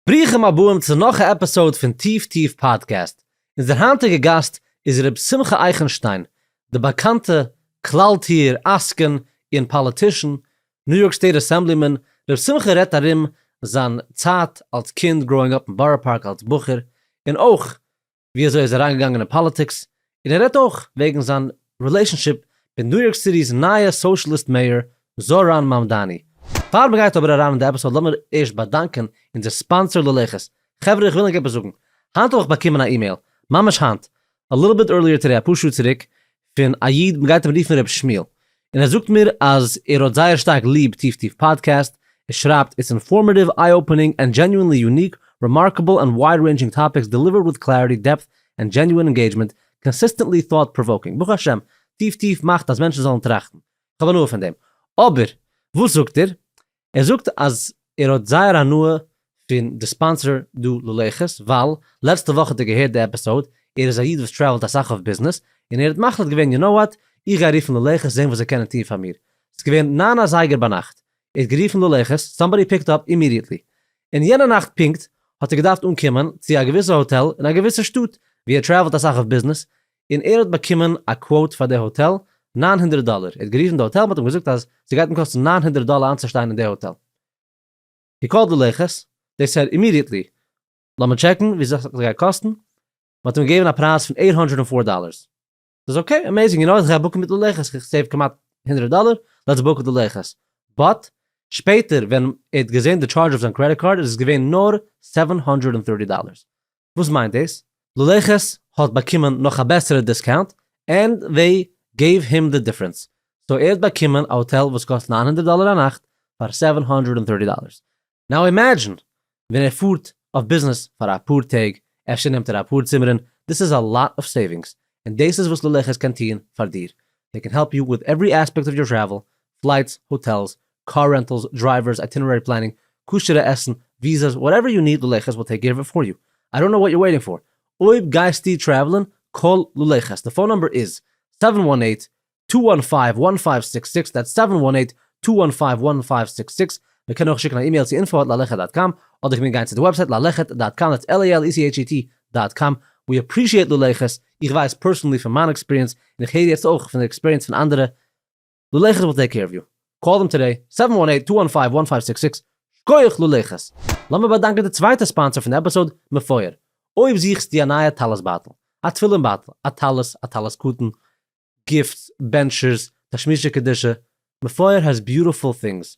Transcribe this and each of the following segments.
ברוכים הבאים צו נאך א עפיסאוד פון טיף טיף פאדקעסט, אונזער היינטיגע גאסט איז ר' שמחה אייכענשטיין, די באקאנטע כלל טיר עסקן און פאליטישן, ניו יארק סטעיט אסעמבלימאן, ר' שמחה רעדט ארום זיין צייט אלס קינד, גראואינג אפ אין בארא פארק אלס בחור, און אויך ווי אזוי ער איז אריינגעגאנגען אין פאליטיקס, און ער רעדט אויך וועגן זיין רילעישאנשיפ מיט ניו יארק סיטי'ס נייע סאושליסט מעיאר זאראן מאמדאני. פאר מען גייט אבער אריין אין די עפיסאד לאמיר ערשט באדאנקען אונזער ספאנסער ללכת. חברה איך וויל ענק עפעס זאגן, היינט האב איך באקומען א אימעיל, ממש היינט, א ליטל ביט ערליער טודעי אפאר שעה צוריק, פון א איד מ'גייט אים רופן ר' שמואל, און ער זאגט מיר אז ער האט זייער שטארק ליב טיף טיף פאדקעסט, ער שרייבט איטס אינפארמעטיוו, איי אופענינג, ענד דזשעניוענלי יוניק, רעמארקעבל אנד ווייד רעינדזשינג טאפיקס דעליווערד וויט קלעריטי, דעפט, ענד דזשעניוען אינגעידזשמענט, קאנסיסטענטלי טאוט פראוואקינג. ברוך השם, טיף טיף מאכט אז מענטשן זאלן טראכטן. כ'האב הנאה פון דעם. אבער, וואס זאגט ער? ער זאגט אז ער האט זייער הנאה פון די ספאנסער דא ללכת, ווייל לעצטע וואך האט ער געהערט די עפיסאוד, ער איז א איד וואס טרעוולט אסאך אויף ביזנעס, און ער האט מחליט געווען יו נאו וואט, איך גיי רופן ללכת זען וואס זיי קענען טון פאר מיר, ס'איז געווען נײַן אזייגער ביינאכט, ער האט גערופן ללכת, סאמבאדי פיקט אפ אימידיעטלי, און יענע נאכט פונקט האט ער געדארפט אנקומען צו א געוויסע האטעל אין א געוויסע שטאט ווי ער טרעוולט אסאך אויף ביזנעס, און ער האט באקומען א קוואוט פאר די האטעל נײַן הונדערט דאלער, ער האט גערופן די האטעל מען האט אים געזאגט אז ס'גייט אים קאסטן נײַן הונדערט דאלער איינצושטיין אין די האטעל, הי קאלד די לעכערס, דעי סעד אימידיעטלי לאמיר טשעקן ווי אזוי ס'גייט אים קאסטן, מען האט אים געגעבן א פרייז פון עיט האנדרעד ענד פאר דאלערס, ס'איז אקעי עמעיזינג, יו נאו איך גיי בוקן מיט די לעכערס איך סעיוו כמעט הונדרעט דאלער, לעטס בוק די לעכערס, באט שפעטער ווען ער האט געזען די טשארדזש אויף זיין קרעדיט קארד איז עס געווען נאר סעווען האנדרעד ענד טערטי דאלערס, וואס מיינט דאס? לולעכעס האט באקומען נאך א בעסערע דיסקאונט ענד זיי געיוו הים די דיפרענס, סאו ער האט באקומען א האטעל וואס קאסט נײַן הונדערט דאלער א נאכט פאר סעווען הונדערט ענד טערטי דאלערס, נאו אימעדזשין ווען ער פארט אויף ביזנעס פאר אפאר טעג אפשר נעמט ער אפאר צימערען, דאס איז א לאט אוו סעווינגס און דאס איז וואס לולעכעס קען טוהן פאר דיר, זיי קען העלפ יו וויט עווערי עספעקט אוו יור טרעוול, פלייטס, האטעלס, קאר רענטעלס, דרייווערס, אייטינערערי פלענינג, כשר'ע עסן, וויזעס, וואטעווער יו ניד לולא חסד וויל טעיק קעיר אוו איט פאר יו. איי דאנט נאו וואט יור וועיטינג פאר. אויב גייסטו טרעוולען, קאל לולא חסד. די פאון נאמבער איז, סעווען וואן עיט, טו וואן פייוו, וואן פייוו סיקס סיקס, דעטס סעווען וואן עיט, טו וואן פייוו, וואן פייוו סיקס סיקס. מען קען אויך שיקן א אימעיל צו אינפא עט לאלעכעט דאט קאם, אדער קען מען גיין צו די וועבסייט לאלעכעט דאט קאם, דעטס LALECHET דאט קאם. ווי אפרישיעט לולא חסד, איך ווייס פערסאנלי פון מיין עקספיריענס, און איך הער יעצט אויך פון די עקספיריענס פון אנדערע, לולעכעס וויל טעיק קעיר אוו יו. קאל דעם טודי, סעווען וואן עיט טו וואן פייוו וואן פייוו סיקס סיקס, שקויעך לולעכעס! לאמיר באדאנקען די צווייטע ספאנסער פון עפיסאד, מפואר. אויב זוכסטו א נייע טלית בייטל, א תפילין בייטל, א טלית, א טלית קטן, גיפטס, בענטשערס, תשמישי קדושה, מפואר העז ביוטעפול טינגס,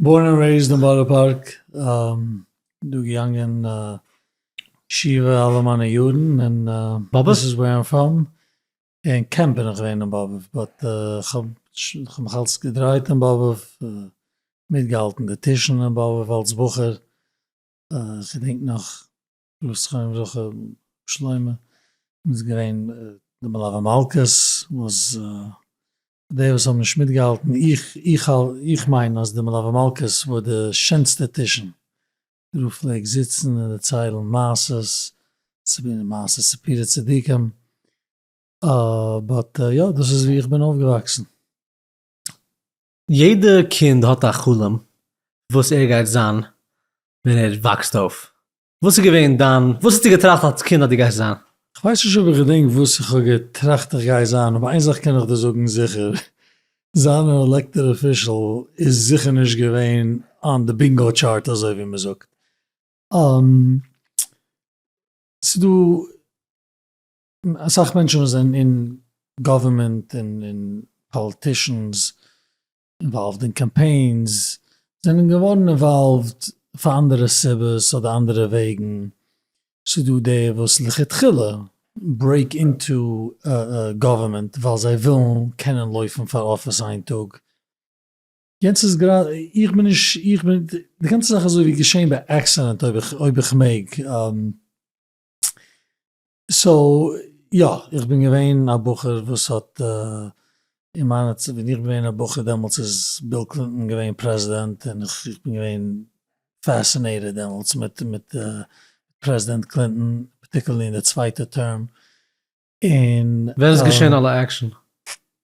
בארן ענד רעיזד אין בארא פארק, דא געגאנגען ישיבה אלע מיינע יארן, און דאס איז וועיר איים פראם, אין קעמפ בין איך געווען אין באבוב, באט כ'האב מיך אלץ געדרייט אין באבוב, מיטגעהאלטן די טישן אין באבוב אלץ בחור, כ'געדענק נאך וואס חיים זכר שלמה איז געווען די מלוה מלכה'ס וואס די וואס האבן נישט מיטגעהאלטן, איך איך איך מיין אז די מלוה מלכה'ס וואר די שענסטע טישן, דער רב פלעגט זיצן און דערציילן מעשות, מעשה סיפורי צדיקים, באט יא דאס איז ווי איך בין אויפגעוואקסן. יעדע קינד האט א חלום וואס ער גייט זיין ווען ער וואקסט אויף, וואס איז געווען דיין, וואס האסטו געטראכט אלס קינד אז דו גייסט זיין? כ'ווייס נישט אויב איך געדענק וואס איך האב געטראכט איך גיי זיין, אבער איין זאך קען איך דיר זאגן זיכער, זיין אן עלעקטעד אפישעל איז זיכער נישט געווען אן די בינגאו טשארט אזוי ווי מען זאגט. ס'דא אסאך מענטשן וואס זענען אין גאווערמענט און פאליטישאנס אינוואלווד אין קאמפיינס זענען געווארן אינוואלווד פאר אנדערע סיבות אדער אנדערע וועגן, ס'דא די וואס לכתחילה ברעיק אינטו גאווערמענט ווייל זיי ווילן קענען לויפן פאר אפיס איין טאג, יענץ איז גראדע איך בין נישט איך בין די גאנצע זאך איז אזוי ווי געשען ביי עקסידענט אויב איך אויב איך מעג. סאו יא, איך בין געווען א בחור וואס האט אין מיינע צ ווען איך בין געווען א בחור דעמאלטס איז ביל קלינטאן געווען פרעזידענט און איך איך בין געווען פעסינעיטעד דעמאלטס מיט מיט פרעזידענט קלינטאן פארטיקולערלי אין די צווייטע טערם און. ווען איז געשען אלע עקשען?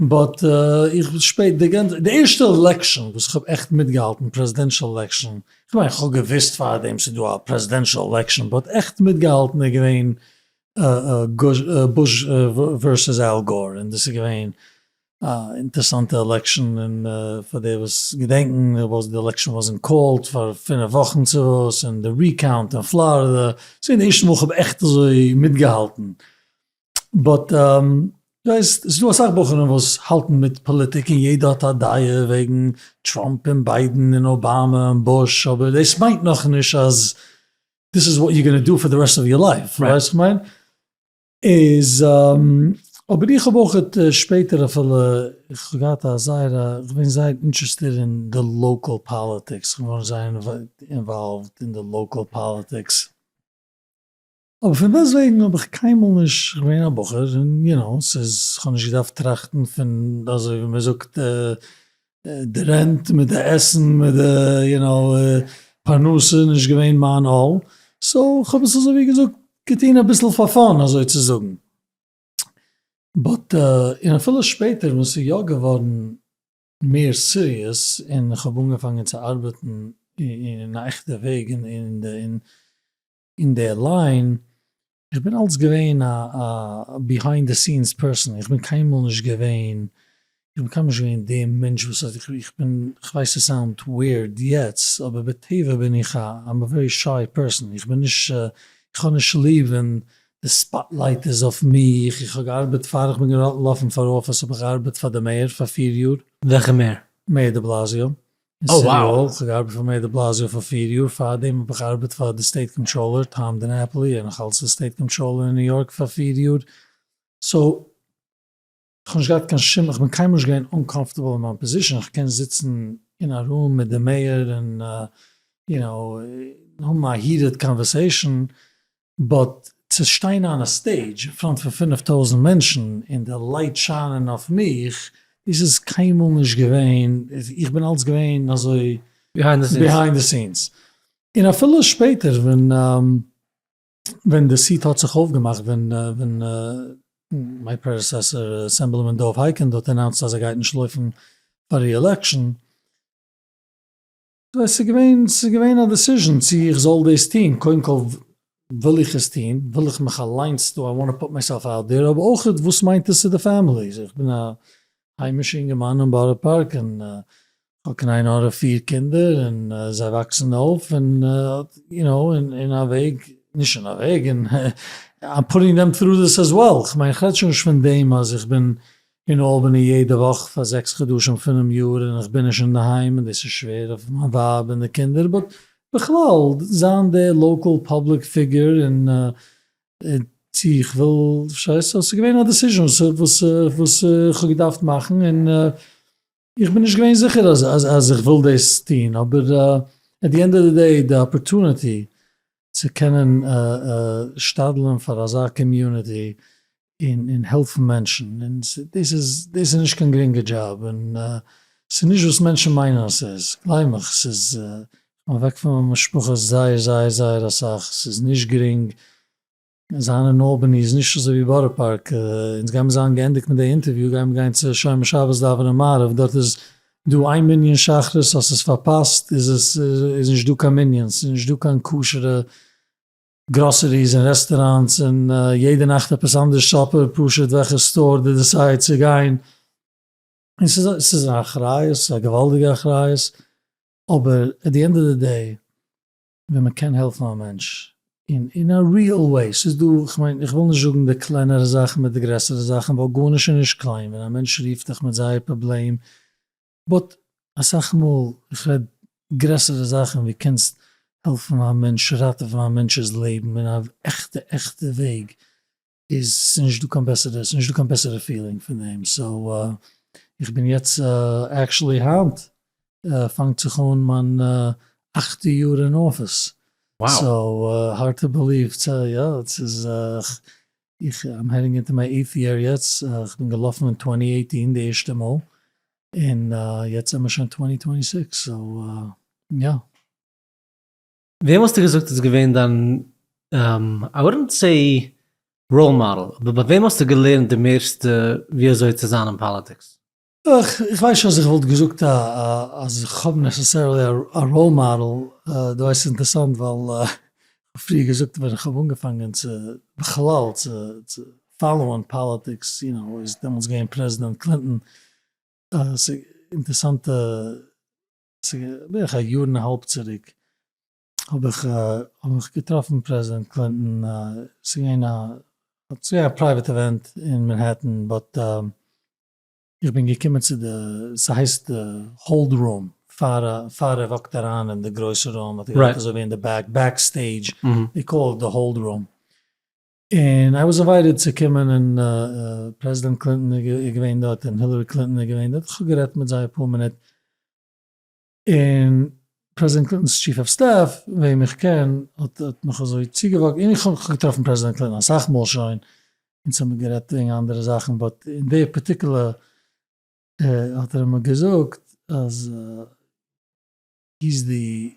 באט איך בין שפעט די גאנצע די ערשטע עלעקשאן וואס איך האב עכט מיטגעהאלטן פרעזידענשאל עלעקשאן, כ'מיין כ'האב געוויסט פארדעם ס'איז דא א פרעזידענשאל עלעקשאן באט עכט מיטגעהאלטן איז געווען בוש ווערסעס על גאור און דאס איז געווען א אינטערסאנטע עלעקשאן און פאר די וואס געדענקן וואס די עלעקשאן וואס אין קאלד פאר פינף וואכן צו וואס און די ריקאונט אין פלארידע ס'איז געווען די ערשטע מאל כ'האב עכט אזוי מיטגעהאלטן באט יא עס איז דא אסאך בחורים וואס האלטן מיט פאליטיק און יעדער האט א דעה וועגן טראמפ און ביידן און אבאמא און בוש אבער דאס מיינט נאכנישט אז דיס איז וואט יו גאנא דא פאר די רעסט אוו יור לייף פארשטייסט וואס איך מיין? איז אבער איך האב אויך שפעטער אפילו איך האב געהאט א זייער א איך בין זייער אינטערעסטירט אין די לאקעל פאליטיקס כ'בין געווארן זייער אינוואלווד אין די לאקעל פאליטיקס. אבער פון דעסט וועגן האב איך קיינמאל נישט געווען א בחור, און יו נאו, ס'איז, כ'האב נישט געדארפט טראכטן פון אזוי ווי מען זאגט די רענט מיט די עסן מיט די יו נאו פרנסה איז נישט געווען מיין עול, סאו כ'האב עס אזוי ווי געזאגט געטון אביסל פאר פאן אזוי צו זאגן, באט און אפילו שפעטער ווען ס'איז יא געווארן מער סיריעס און כ'האב אנגעפאנגען צו ארבעטן אין א עכטע וועג און אין די ליין, איך בין אלץ געווען א ביהיינד די סינס פערסאן, איך בין קיינמאל נישט געווען, איך בין קיינמאל נישט געווען די מענטש וואס האט, איך בין, איך ווייס עס סאונד וויערד יעצט, אבער בטבע בין איך א, איים א ווערי שיי פערסאן, איך בין נישט, איך האב נישט ליב ווען די ספאטלייט איז אויף מיך, איך האב געארבעט פאר, איך בין געלאפן פאר אפיס האב איך געארבעט פאר די מעיאר פאר פיר יאר. וועלכע מעיאר? מעיאר דעבלאזיאו, אין סיטי האל, כ'האב געארבעט פאר מעיאר דעבלאזיא פאר פיר יאר, פארדעם האב איך געארבעט פאר די סטעיט קאנטראלער טאם דינעפלי, און נאך אלץ די סטעיט קאנטראלער אין ניו יארק פאר פיר יאר, סאו כ'האב נישט געהאט קיין שום, כ'בין קיינמאל נישט געווען אנקאמפארטעבל אין מיין פאזישאן, איך קען זיצן אין א רום מיט די מעיאר און יו נאו האבן א היעטעד קאנווערסעישאן, באט צו שטיין אן א סטעידזש אין פראנט פון פֿינף טויזנט מענטשן און די לייט שיינען אויף מיך, דאס איז קיינמאל נישט געווען, איך בין אלץ געווען אזוי ביהיינד די סינס, און אפילו שפעטער ווען די סיט האט זיך אויפגעמאכט ווען מיין פרעדעסעסער אסעמבלימען דוב הייקינד האט אנאונסט אז ער גייט נישט לויפן פאר ריעלעקשאן, עס איז געווען, עס איז געווען א דעסיזשען צו איך זאל דאס טוהן, קודם כל וויל איך עס טוהן, וויל איך מיך אליינס, דו איי וואנט טו פוט מייסעלף אוט דעיר, אבער אויך וואס מיינט עס צו די פעמילי, איך בין א היימישע אינגערמאן אין בארא פארק און כ'האב קניין הרע פיר קינדער און זיי וואקסן אויף און יו נאו אין א וועג, נישט אין א וועג, און איי עם פוטינג דעם טרו דיס עז וועל, כ'מיין כ'רעד שוין נישט פון דעם אז איך בין אין אלבעני יעדע וואך פאר זעקס חדשים פונעם יאר און איך בין נישט אינדערהיים און דאס איז שווער אויף מיין ווייב און די קינדער באט בכלל זיין די לאקעל פאבליק פיגור און צו איך וויל פארשטייסטו סאיז געווען א דעסיזשען וואס איך האב געדארפט מאכן און. איך בין נישט געווען זיכער אז אז איך וויל דאס טון, אבער עט די ענד אוו די דעי די אפערטוניטי צו קענען שתדל'ן פאר אזא קאמיוניטי און און העלפן מענטשן, און דאס איז דאס איז נישט קיין גרינגע דזשאב, און ס'איז נישט וואס מענטשן מיינען אז ס'איז, גלייב מיך, ס'איז, כ'בין אוועק פון מיין משפחה זייער זייער זייער אסאך, ס'איז נישט גרינג, זיין אין אלבעני איז נישט אזוי ווי בארא פארק, אונז גיימיר זיין געענדיגט מיט די אינטערוויו גיימיר גיין צו שומר שבת דאווענען מעריב, דארט איז דא איין מנין שחרית אז ס'איז פארפאסט איז עס איז נישט דא קיין מנין, ס'איז נישט דא קיין כשר'ע גראסעריס און רעסטעראנטס און יעדע נאכט עפעס אנדערש סאפער פשוט וועלכע סטאר דו דעסייד צו גיין, און ס'איז א ס'איז א אחריות, ס'איז א געוואלדיגע אחריות, אבער עט די ענד אוו די דעי ווען מען קען העלפן א מענטש אין אין א ריעל וועי, ס'איז דא, כ'מיין איך וויל נישט זאגן די קלענערע זאכן מיט די גרעסערע זאכן ווייל גארנישט איז נישט קליין ווען א מענטש רופט דיך מיט זייער פראבלעם, באט אסאך מאל, איך רעד גרעסערע זאכן ווי קענסט העלפן א מענטש, ראטעווען א מענטש'ס לעבן אין א עכטע עכטע וועג, איז נישט דא קיין בעסערע, ס'נישט דא קיין בעסערע פילינג פון דעם, סאו איך בין יעצט עקשעלי היינט פאנגט זיך אן מיין אכטע יאר אין אפיס, סאו הארד טו בעליוו, יא ס'איז איך איים העדינג אינטו מיי עיטט יער יעצט, כ'בין געלאפן אין טווענטי עיטין די ערשטע מאל, און יעצט זעמער שוין טווענטי טווענטי סיקס, סאו יא. וועם האסטו געזאגט איז געווען דיין איי וואלדנט סעי ראול מאדעל, אבער ביי וועם האסטו געלערנט די מערסטע ווי אזוי צו זיין אין פאליטיקס? איך ווייס נישט אז איך וואלט געזאגט אז איך האב נעסעסערעלי א ראול מאדעל, דו ווייסט ס'איז אינטערסאנט ווייל כ'האב פריער געזאגט ווען איך האב אנגעפאנגען צו בכלל צו פאלאוען פאליטיקס יו נאו איז דעמאלטס געווען פרעזידענט קלינטאן, ס'אינטערסאנטע. בערך א יאר און א האלב צוריק האב איך האב איך געטראפן פרעזידענט קלינטאן ס'איז געווען א ס'איז געווען א פרייוועט אווענט אין מענהעטן באט איך בין געקומען צו די ס'הייסט די האלד רום פאר פאר ער וואקט אריין אין די גרויסע רום האט ער געזאגט אזוי ווי אין די בעק בעק סטעידזש דעי קאל איט די האלד רום און איי וואס עוואוידעד צו קומען און פרעזידענט קלינטאן איז געווען דארט און הילערי קלינטאן איז געווען דארט, כ'האב גערעדט מיט זיי אפאר מינוט, און פרעזידענט קלינטאן'ס טשיף אוו סטעף וועם איך קען האט מיך אזוי צוגעוואקט, און איך האב געטראפן פרעזידענט קלינטאן אסאך מאל שוין, אונז האמיר גערעדט וועגן אנדערע זאכן, באט אין די פארטיקולער האט ער מיר געזאגט אז הי איז די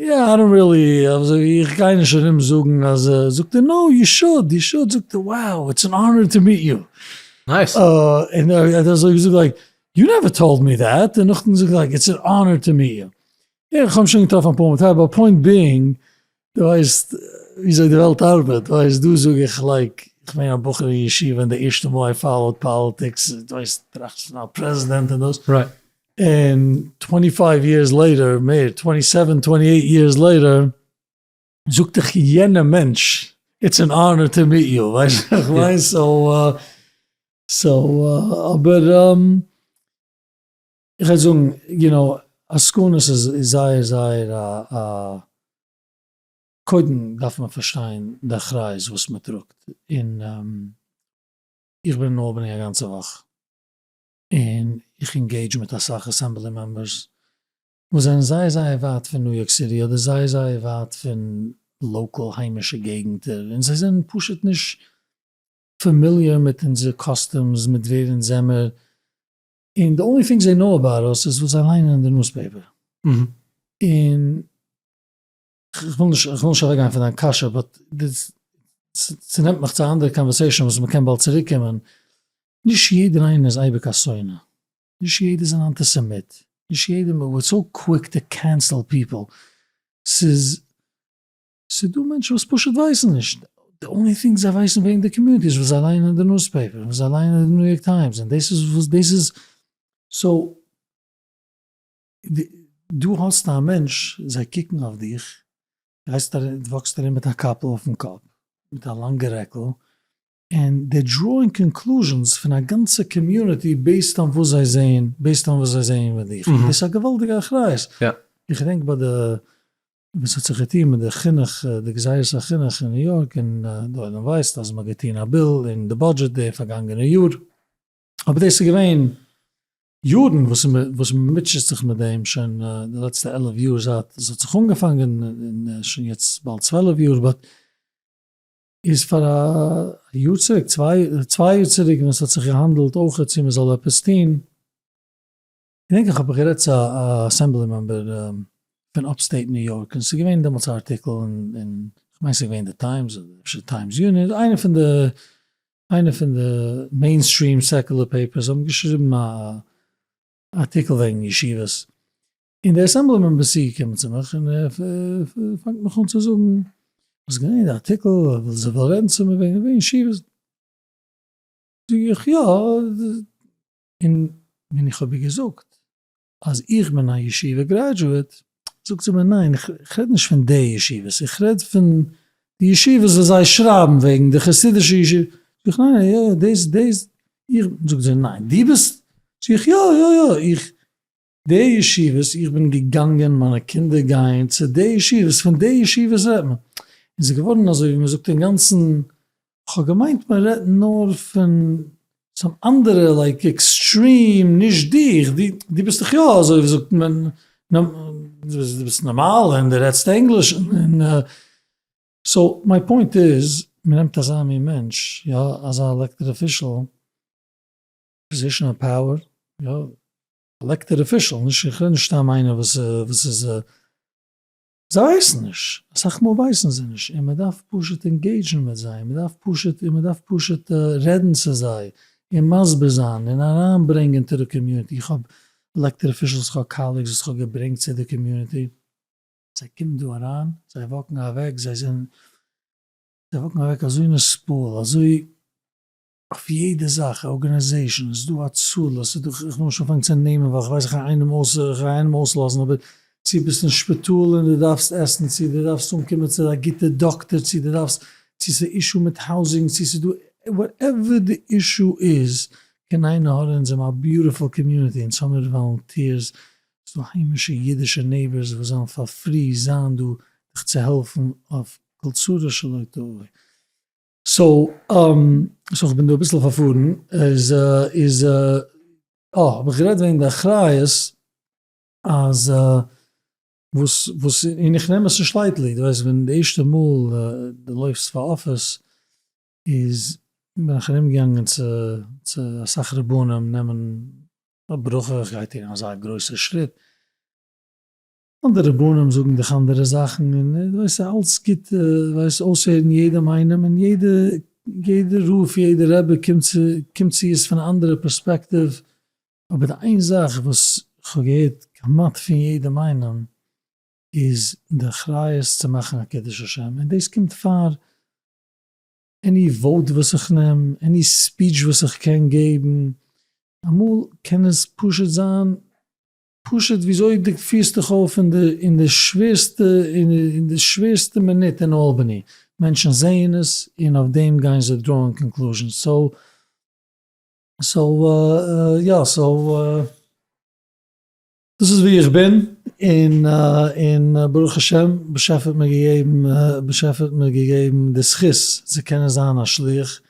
יא איי דאנט ריעלי, איך גיי נישט ארום זאגן אז, זאגט ער נאו יו שוד יו שוד, זאגט ער wow איטס ען אנער טו מיעט יו, נייס, און ער האט אזוי געזאגט לייק יו נעווער טאלד מי דעט, און נאכדעם זאגט ער לייק איטס ען אנער טו מיעט יו, איך האב שוין געטראפן אפאר מאל מיט אייוועלט, פוינט בינג דו ווייסט וויאזוי די וועלט ארבעט, דו ווייסט דא זאג איך לייק איך בין א בחור אין ישיבה און די ערשטע מאל איי פאלאוד פאליטיקס, דו ווייסט טראכטסט פון א פרעזידענט און דאס, און טווענטי פייוו יערס לעיטער, מער, טווענטי סעווען טווענטי עיט יערס לעיטער, זאגט דיך יענע מענטש, איטס ען אנער טו מיט יו, ווייסט וואס איך מיין? סאו, אבער, איך וועל זאגן, יו נאו, עסקנות איז זייער זייער א א, קודם דארף מען פארשטיין די אחריות וואס מען טראגט, און איך בין אין אלבעני א גאנצע וואך. און איך אינגעידזש מיט אסאך אסעמבלי מעמבערס וואס זענען זייער זייער ווייט פון ניו יארק סיטי אדער זייער זייער ווייט פון לאקאל היימישע געגנטער און זיי זענען פשוט נישט פעמיליער מיט אונזער קאסטומס מיט ווער אונז זעמער און די אנלי טינג זיי נאו אבאוט אס איז וואס זיי ליינען אין די נוזפעיפער און כ'וויל נישט כ'וויל נישט אוועקגיין פון דיין קשיא באט דאס צונעמט מיך צו א אנדערע קאנווערסעישאן וואס מ'קען באלד צוריקקומען, נישט יעדער איינער איז אייביג א שונא, נישט יעדער איז אן אנטיסעמיט, נישט יעדער מען איז סאו קוויק טו קענסעל פיפל, ס'איז ס'איז דא מענטשן וואס פשוט ווייסן נישט, די אנלי טינג זיי ווייסן וועגן די קאמיוניטי איז וואס זיי לייענען אין די נוזפעיפער, וואס זיי לייענען אין די ניו יארק טיימס, און דאס איז וואס דאס איז, סאו. דו האסט א מענטש, זיי קוקן אויף דיך, גייסט ארום, וואקסט ארום מיט א קאפל אויפן קאפ, מיט א לאנגע רעקל, און דער דראוינג קאנקלוזשענס פון א גאנצע קאמיוניטי בעיסד אן וואס זיי זעהן, בעיסד אן וואס זיי זעהן איבער דיך, און דאס איז א געוואלדיגע אחריות, איך געדענק ביי די, וואס האט זיך געטוהן מיט די חינוך, די גזירת החינוך אין ניו יארק, און די עולם ווייסט אז מען האט געטוהן א ביל אין די בודזשעט די פארגאנגענע יאר, אבער דאס איז געווען יארן וואס וואס מען מוטשעט זיך מיט דעם שוין די לעצטע עלף יאר זייט עס האט זיך אנגעפאנגען און שוין יעצט באלד צוועלף יאר באט איז פאר א יאר צוריק צוויי צוויי יאר צוריק ווען עס האט זיך געהאנדעלט אויכעט צו מען זאל עפעס טוהן געדענק איך האב גערעדט צו א אסעמבלי מעמבער פון אפסטעיט ניו יארק און ס'איז געווען דעמאלטס א ארטיקל און כ'מיין ס'איז געווען די טיימס אדער אפשר טיימס יוניאן איינע פון די איינע פון די מעין סטרים סעקולער פעיפערס האבן געשריבן א ארטיקל וועגן ישיבות און דער אסעמבלי מעמבער איז צוגעקומען צו מיך און ער פאנגט מיך אן צו זאגן וואס איז געווען די ארטיקל זיי וויל רעדן צו מיר וועגן ישיבות זאג איך יא. און ווען איך האב איר געזאגט אז איך בין א ישיבה גרעדזשועט, זאגט זי מיר ניין איך רעד נישט פון די ישיבות, איך רעד פון די ישיבות וואס זיי שרייבן וועגן, די חסידישע ישיבות, זאג איך ניין ניין יא יא דאס דאס איך, זאגט זי ניין דו ביסט, זאג איך יא יא יא איך. די ישיבות איך בין געגאנגען, מיינע קינדער גייען צו די ישיבות, פון די ישיבות רעדט מען. און ס'איז געווארן אזוי ווי מ'זאגט אינגאנצן, כ'האב געמיינט מ'רעדט נאר פון סאם אנדערע לייק עקסטרים, נישט דיך, דו ביסט דאך יא אזוי ווי זאגט מען, דו ביסט נארמאל און דו רעדסט ענגליש און. סאו מיי פוינט איז, מ'נעמט אזא מין מענטש, יא, אזא עלעקטעד אפישעל, פאזישאן אוו פאוער, יא. עלעקטעד אפישעל, נישט איך רעד נישט סתם איינער וואס וואס איז, זיי ווייסן נישט, אסאך מאל ווייסן זיי נישט, און מען דארף פשוט ענגעידזשן מיט זיי, מען דארף פשוט און מען דארף פשוט רעדן צו זיי, און מסביר זיין, און אריין ברענגען צו די קאמיוניטי, איך האב עלעקטעד אפישעלס, איך האב קאלעגס וואס איך האב געברענגט צו די קאמיוניטי, זיי קומען דא אריין, זיי וואקן אוועק, זיי זענען, זיי וואקן אוועק אזוי נסבל, אזוי. אויף יעדע זאך, ארגענעזעישאן, ס'איז דא הצלה, ס'איז דא, איך נעם שוין פאנג צו נעמען ווייל איך ווייס איך גיי איינעם אויס, איך גיי איינעם אויסלאזן, אבער צו ביסט אין שפיטאל און די דארפסט עסן, צו די דארפסט אנקומען צו א גוטע דאקטער, צו די דארפסט, צו ס'איז אישו מיט האוזינג, צו ס'איז דא, וואטעווער די אישו איז, קען איינער האלען, אונז האבן א ביוטיפול קאמיוניטי, אונז האמיר וואלונטירס, ס'איז דא היימישע אידישע נעיבערס וואס זאלן פאר פרי זיין דא דיך צו העלפן אויף כל צרה שלא תבוא. סאו סאו כ'בין דא אביסל פארפארן, איז איז אה האב איך גערעדט וועגן די אחריות אז וואס וואס און איך נעם עס נישט לייטלי, דו ווייסט ווען די ערשטע מאל דו לויפסט פאר אפיס איז בין איך ארום געגאנגען צו צו אסאך רבנים נעמען א ברכה, כ'גיי טון אזא גרויסע שריט. אנדערע רבנים זאגן דיך אנדערע זאכן און דו ווייסט אז אלץ גוט ווייסט אויסהערן יעדעם איינעם און יעדע יעדע רב יעדע רבי קומט צו קומט צו עס פון א אנדערע פערספעקטיוו אבער די איין זאך וואס כ'האב געהערט כמעט פון יעדעם איינעם איז די אחריות צו מאכן א קידוש השם און דאס קומט פאר עני וואוט וואס איך נעם עני ספיטש וואס איך קען געבן אמאל קען עס פשוט זיין פשוט וויאזוי דו פירסט דיך אויף אין די אין די שווערסטע אין די שווערסטע מינוט אין אלבעני, מענטשן זעען עס און אויף דעם גייען זיי דראון קאנקלוזשענס, סאו סאו יא סאו דאס איז ווי איך בין און און ברוך השם באשעפער האט מיר געגעבן באשעפער האט מיר געגעבן די זכות צו קענען זיין א שליח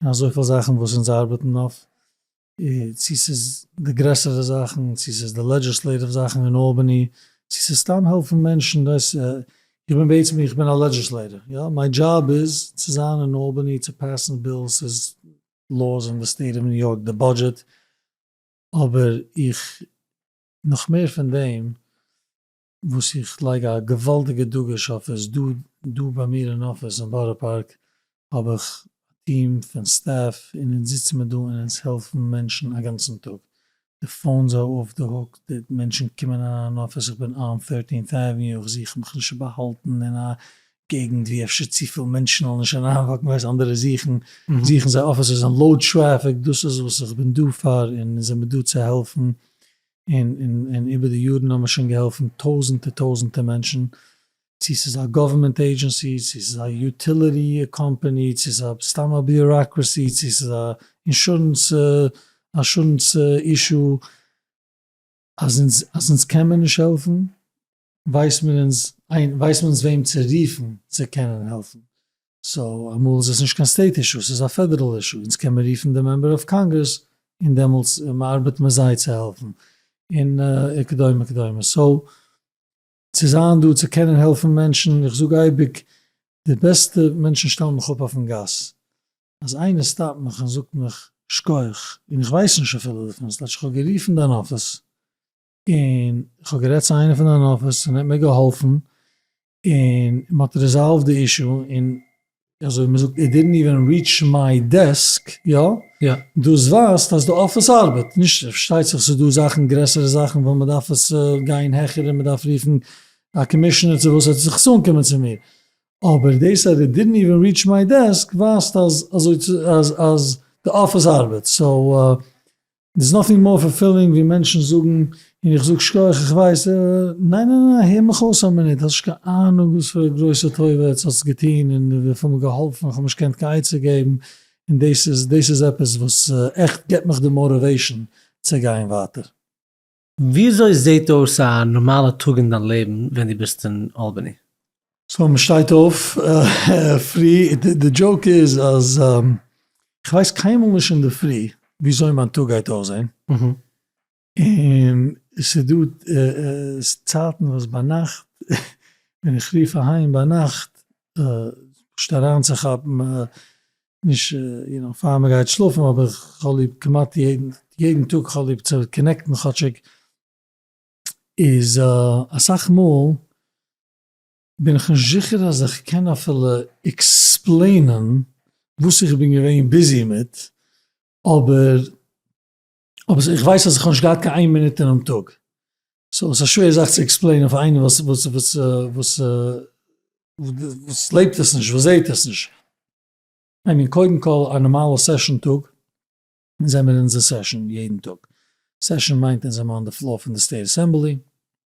אין אזויפיל זאכן וואס אונז ארבעטן אויף צו ס'איז די גרעסערע זאכן, צו ס'איז די לעדזשיסלעיטיוו זאכן אין אלבאני, צו ס'איז סתם העלפן מענטשן, דאס, איך בין בעצם, איך בין א לעדזשיסלעיטער, יא, מיין דזשאב איז צו זיין אין אלבאני צו פעסן בילס איז לאוס אין די סטעיט אוו ניו יארק די בודזשעט, אבער איך, נאך מער פון דעם, וואס איך לייג א געוואלדיגע דגוש אויף עס, דא ביי מיר אין אפיס אין בארא פארק האב איך א טיעם פון סטעף און אונז זיצן מיר דא און אונז העלפן מענטשן א גאנצן טאג, די פאונס אר אף די הוק, די מענטשן קומען אריין אין אפיס, איך בין אן ט'ערטינט עוועניו, איך זוך מיך נישט צו באהאלטן אין א געגנט ווי אפשר צופיל מענטשן וועלן נישט אריינוואקן, ווייסט אנדערע זוכן זיי אפיסעס אין לאו טרעפיק, דאס איז וואס איך בין דא פאר און אונז זעמיר דא צו העלפן און איבער די יארן האבן מיר שוין געהאלפן טויזענטער טויזענטער מענטשן, צו ס'איז א גאווערמענט עידזשענסי, צו ס'איז א יוטיליטי קאמפאני, צו ס'איז א סתם א ביוראקרעסי, צו ס'איז א אינשורענס אשורענס אישו, אז אונז קען מען נישט העלפן, ווייסט מען אונז איין ווייסט מען אונז וועם צו רופן צו קענען העלפן, סאו אמאל איז עס נישט קיין סטעיט אישו עס איז א פעדערעל אישו, אונז קען מען רופן די מעמבער אוו קאנגרעס און דעמאלטס מען ארבעט מיט זיי צו העלפן און וכדומה כדומה, סאו צו זיין דא צו קענען העלפן מענטשן, איך זאג אייביג די בעסטע מענטשן שטעלן מיך אפ אויפן גאס, אז איינער סטאפט מיך און זאגט מיך שכח און איך ווייס נישט אפילו דערפון, ס'טייטש איך האב גערופן דיין אפיס. און איך האב גערעדט צו איינער פון דיין אפיס און ער האט מיר געהאלפן און מען האט ריזאלווד די אישו און אזוי מען זאגט איט דידנט איווען ריעטש מיי דעסק, יא? יא. דאס ווייזט אז די אפיס ארבעט. נישט פארשטייט זיך ס'איז דא זאכן גרעסערע זאכן וואס מען דארף עס גיין העכער און מען דארף רופן א קאמישענער צו וואס ער זאל זיך אנקומען צו מיר, אבער דאס אז איט דידנט איווען ריעטש מיי דעסק ווייזט אז אזוי אז אז די אפיס ארבעט, סאו דעס נאטינג מאר פולפילינג ווי מענטשן זאגן און איך זאג שכח איך ווייס אה ניין ניין ניין הער מיך אויס א מינוט האסט נישט קיין אהנונג וואס פאר א גרויסע טובה עטס האסט געטון און וויפיל מען געהאלפן איך האב נישט געקענט קיין עצה געבן און דעס איז דעס איז עפעס וואס עכט געט מיך די מאטיוועישן צו גיין ווייטער. וויאזוי זעהט אויס א נארמאלע טאג אין דיין לעבן ווען דו ביסט אין אלבאני? סאו מען שטייט אויף פרי, די דזשאוק איז אז איך ווייס קיינמאל נישט אינדערפרי וויאזוי מיין טאג גייט אויסזעהן, און ס'דא צייטן וואס ביינאכט ווען איך רוף אהיים ביינאכט פשוט אריינצוכאפן נישט יו נאו פאר מען גייט שלאפן אבער כ'האב ליב כמעט יעדן טאג כ'האב ליב צו קאנעקטן כאטשיג איז אסאך מאל בין איך נישט זיכער אז איך קען אפילו עקספלעינען וואס איך בין געווען ביזי מיט אבער אבער איך ווייס אז איך האב נישט געהאט קיין איין מינוט אינעם טאג. סאו עס איז א שווער זאך צו עקספלעינען פאר איינעם וואס וואס וואס וואס וואס לעבט עס נישט, וואס זעהט עס נישט. איי מין קודם כל א נארמאלע סעשאן טאג, זעמיר אין אונזער סעשאן יעדן טאג. סעשאן מיינט אונז זעמער אן די פלאר פון די סטעיט אסעמבלי,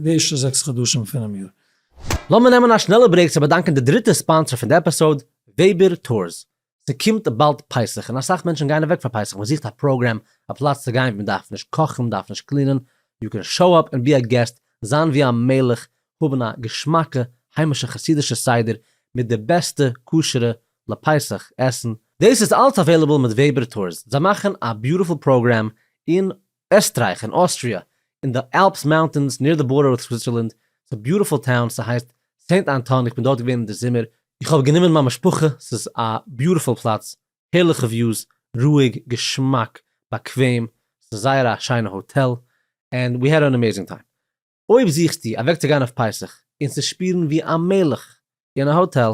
די ערשטע זעקס חדשים פונעם יאר. לאמיר נעמען א שנעלע ברעיק צו באדאנקען די דריטע ספאנסער פון די עפיסאוד, וועבער טורס. ס'קומט באלד פסח און אסאך מענטשן גייען אוועק פאר פסח, מ'זוכט א פראגרעם, א פלאץ צו גיין ווי מ'דארף נישט קאכן, מ'דארף נישט קלינען, יו קען שאו אפ און בי א געסט, זיין ווי א מלך, האבן א געשמאקע היימישע חסידישע סדר מיט די בעסטע כשר'ע לפסח עסן, דאס איז אלס אוועילעבל מיט וועבער טורס, זיי מאכן א ביוטיפול פראגרעם און עסטרייך און אוסטריע, אין די אלפס מאונטענס ניר די בארדער וויט סוויצערלענד, ס'איז ביוטיפול טאון, ס'הייסט סעינט אנטאן איך בין דארט געווען אין די זומער, איך האב גענומען מיין משפחה, ס'איז א ביוטיפול פלאץ, הערליכע וויוס, רואיג, געשמאק, באקוועם, ס'איז זייער א שיינע האטעל, ענד ווי העד אן עמעזינג טיים. אויב זוכסטו אוועק צו גיין אויף פסח און צו שפירן ווי א מלך אין א האטעל,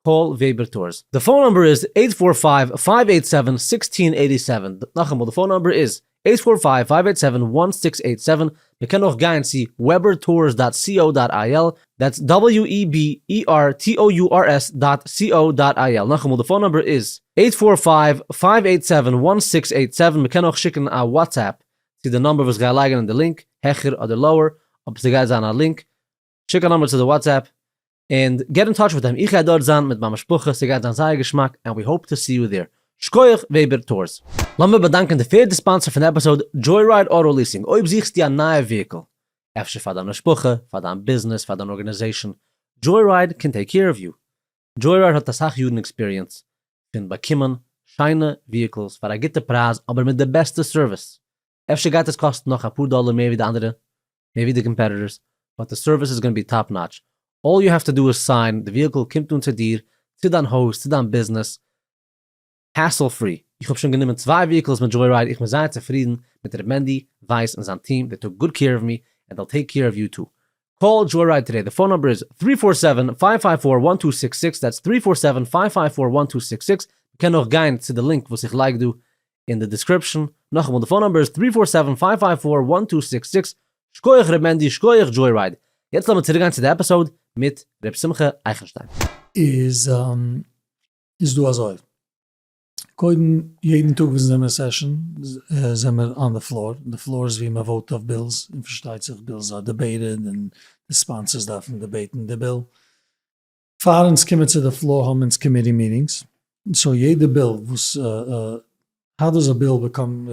קאל וועבער טארס. די פאון נומבער איז עיט פאר פייוו פייוו עיט סעווען זיקסטין עיטי סעווען נאכאמאל די פאון נומבער איז עיט פאר פייוו פייוו עיט סעווען וואן סיקס עיט סעווען מען קען אויך גיין צו וועבער טארס דאט סי או דאט איי על דעטס דאבעליו אי בי אי אר טי או יו אר עס דאט סי או דאט איי על נאכאמאל די פאון נומבער איז עיט פאר פייוו פייוו עיט סעווען וואן סיקס עיט סעווען מען קען אויך שיקן א וואטסעפפ צו די נומבער וואס גיי לייגן אין די לינק העכער אדער לאוער אויב סגייט זיין א לינק שיק א נאמבער צו די וואטסעפפ און געט אין טאטש מיט אים, איך גיי דארט זיין מיט מיין משפחה, ס'גייט זיין זייער געשמאק ענד ווי האופ טו סי יו דער. שכוח וועבער טורס. לאמיר באדאנקען די פערדע ספאנסער פון די עפיסאוד, דזשוי-רייד אוטא ליסינג, אויב זוכסטו א נייע וויהיקל, אפשר פאר דיין משפחה, פאר דיין ביזנעס, פאר דיין ארגענעזעישאן, דזשוי-רייד קען טעיק קעיר אוו יו. דזשוי-רייד האט אסאך יארן עקספיריענס פון באקומען שיינע וויהיקלס פאר א גוטע פרייז אבער מיט די בעסטע סערוויס, אפשר גייט עס קאסטן נאך אפאר דאלער מער ווי די אנדערע, מער ווי די קאמפעטיטארס, באט די סערוויס איז גאנא בי טאפ נאטש, אלל יו העוו טו דא איז סיין, די וויהיקל קומט אן צו דיר, צו דיין הויז, צו דיין ביזנעס, העסל פרי, איך האב שוין גענומען צוויי וויהיקלס מיט דזשוי רייד, איך בין זייער צופרידן מיט ר' מענדי ווייס און זיין טיעם, דעי טוק גוד קעיר אוו מי, ענד דעל טעיק קעיר אוו יו טו. קאל דזשוי רייד טודעי, די פאון נומבער איז, טרי פאר סעווען, פייוו פייוו פאר, וואן טו סיקס סיקס, דעטס, טרי פאר סעווען, פייוו פייוו פאר, וואן טו סיקס סיקס, מען קען אויך גיין צו די לינק וואס איך לייג דא, אין די דיסקריפשען, נאכאמאל די פאון נאמבער איז טרי פאר סעווען פייוו פייוו פאר וואן טו סיקס סיקס, שקויעך ר' מענדי שקויעך דזשוי רייד, יעצט לאמיר צוריקגיין צו די עפיסאוד מיט ר' שמחה אייכנשטיין. איז איז דא אזוי, קודם יעדן טאג וואס אונז זעמיר אין סעשאן זעמיר אן די פלאר, די פלאר איז ווי מען וואוט אויף בילס, און פארשטייט זיך בילס אר דעבעיטעד און די ספאנסערס דארפן דעבעיטן די ביל, פאר אונז קומען צו די פלאר האבן אונז קאמיטי מיטינגס, סאו יעדע ביל וואס האו דאז א ביל באקאם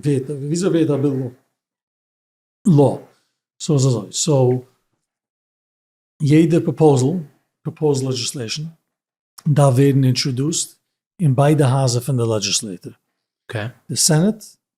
ווערט וויאזוי ווערט א ביל לאו, סאו איז אזוי סאו יעדע פראפאזעל פראפאוזד לעדזשיסלעישן דארף ווערן אינטראדוסט אין ביידע הייזער פון די לעדזשיסלעטור, די סענעט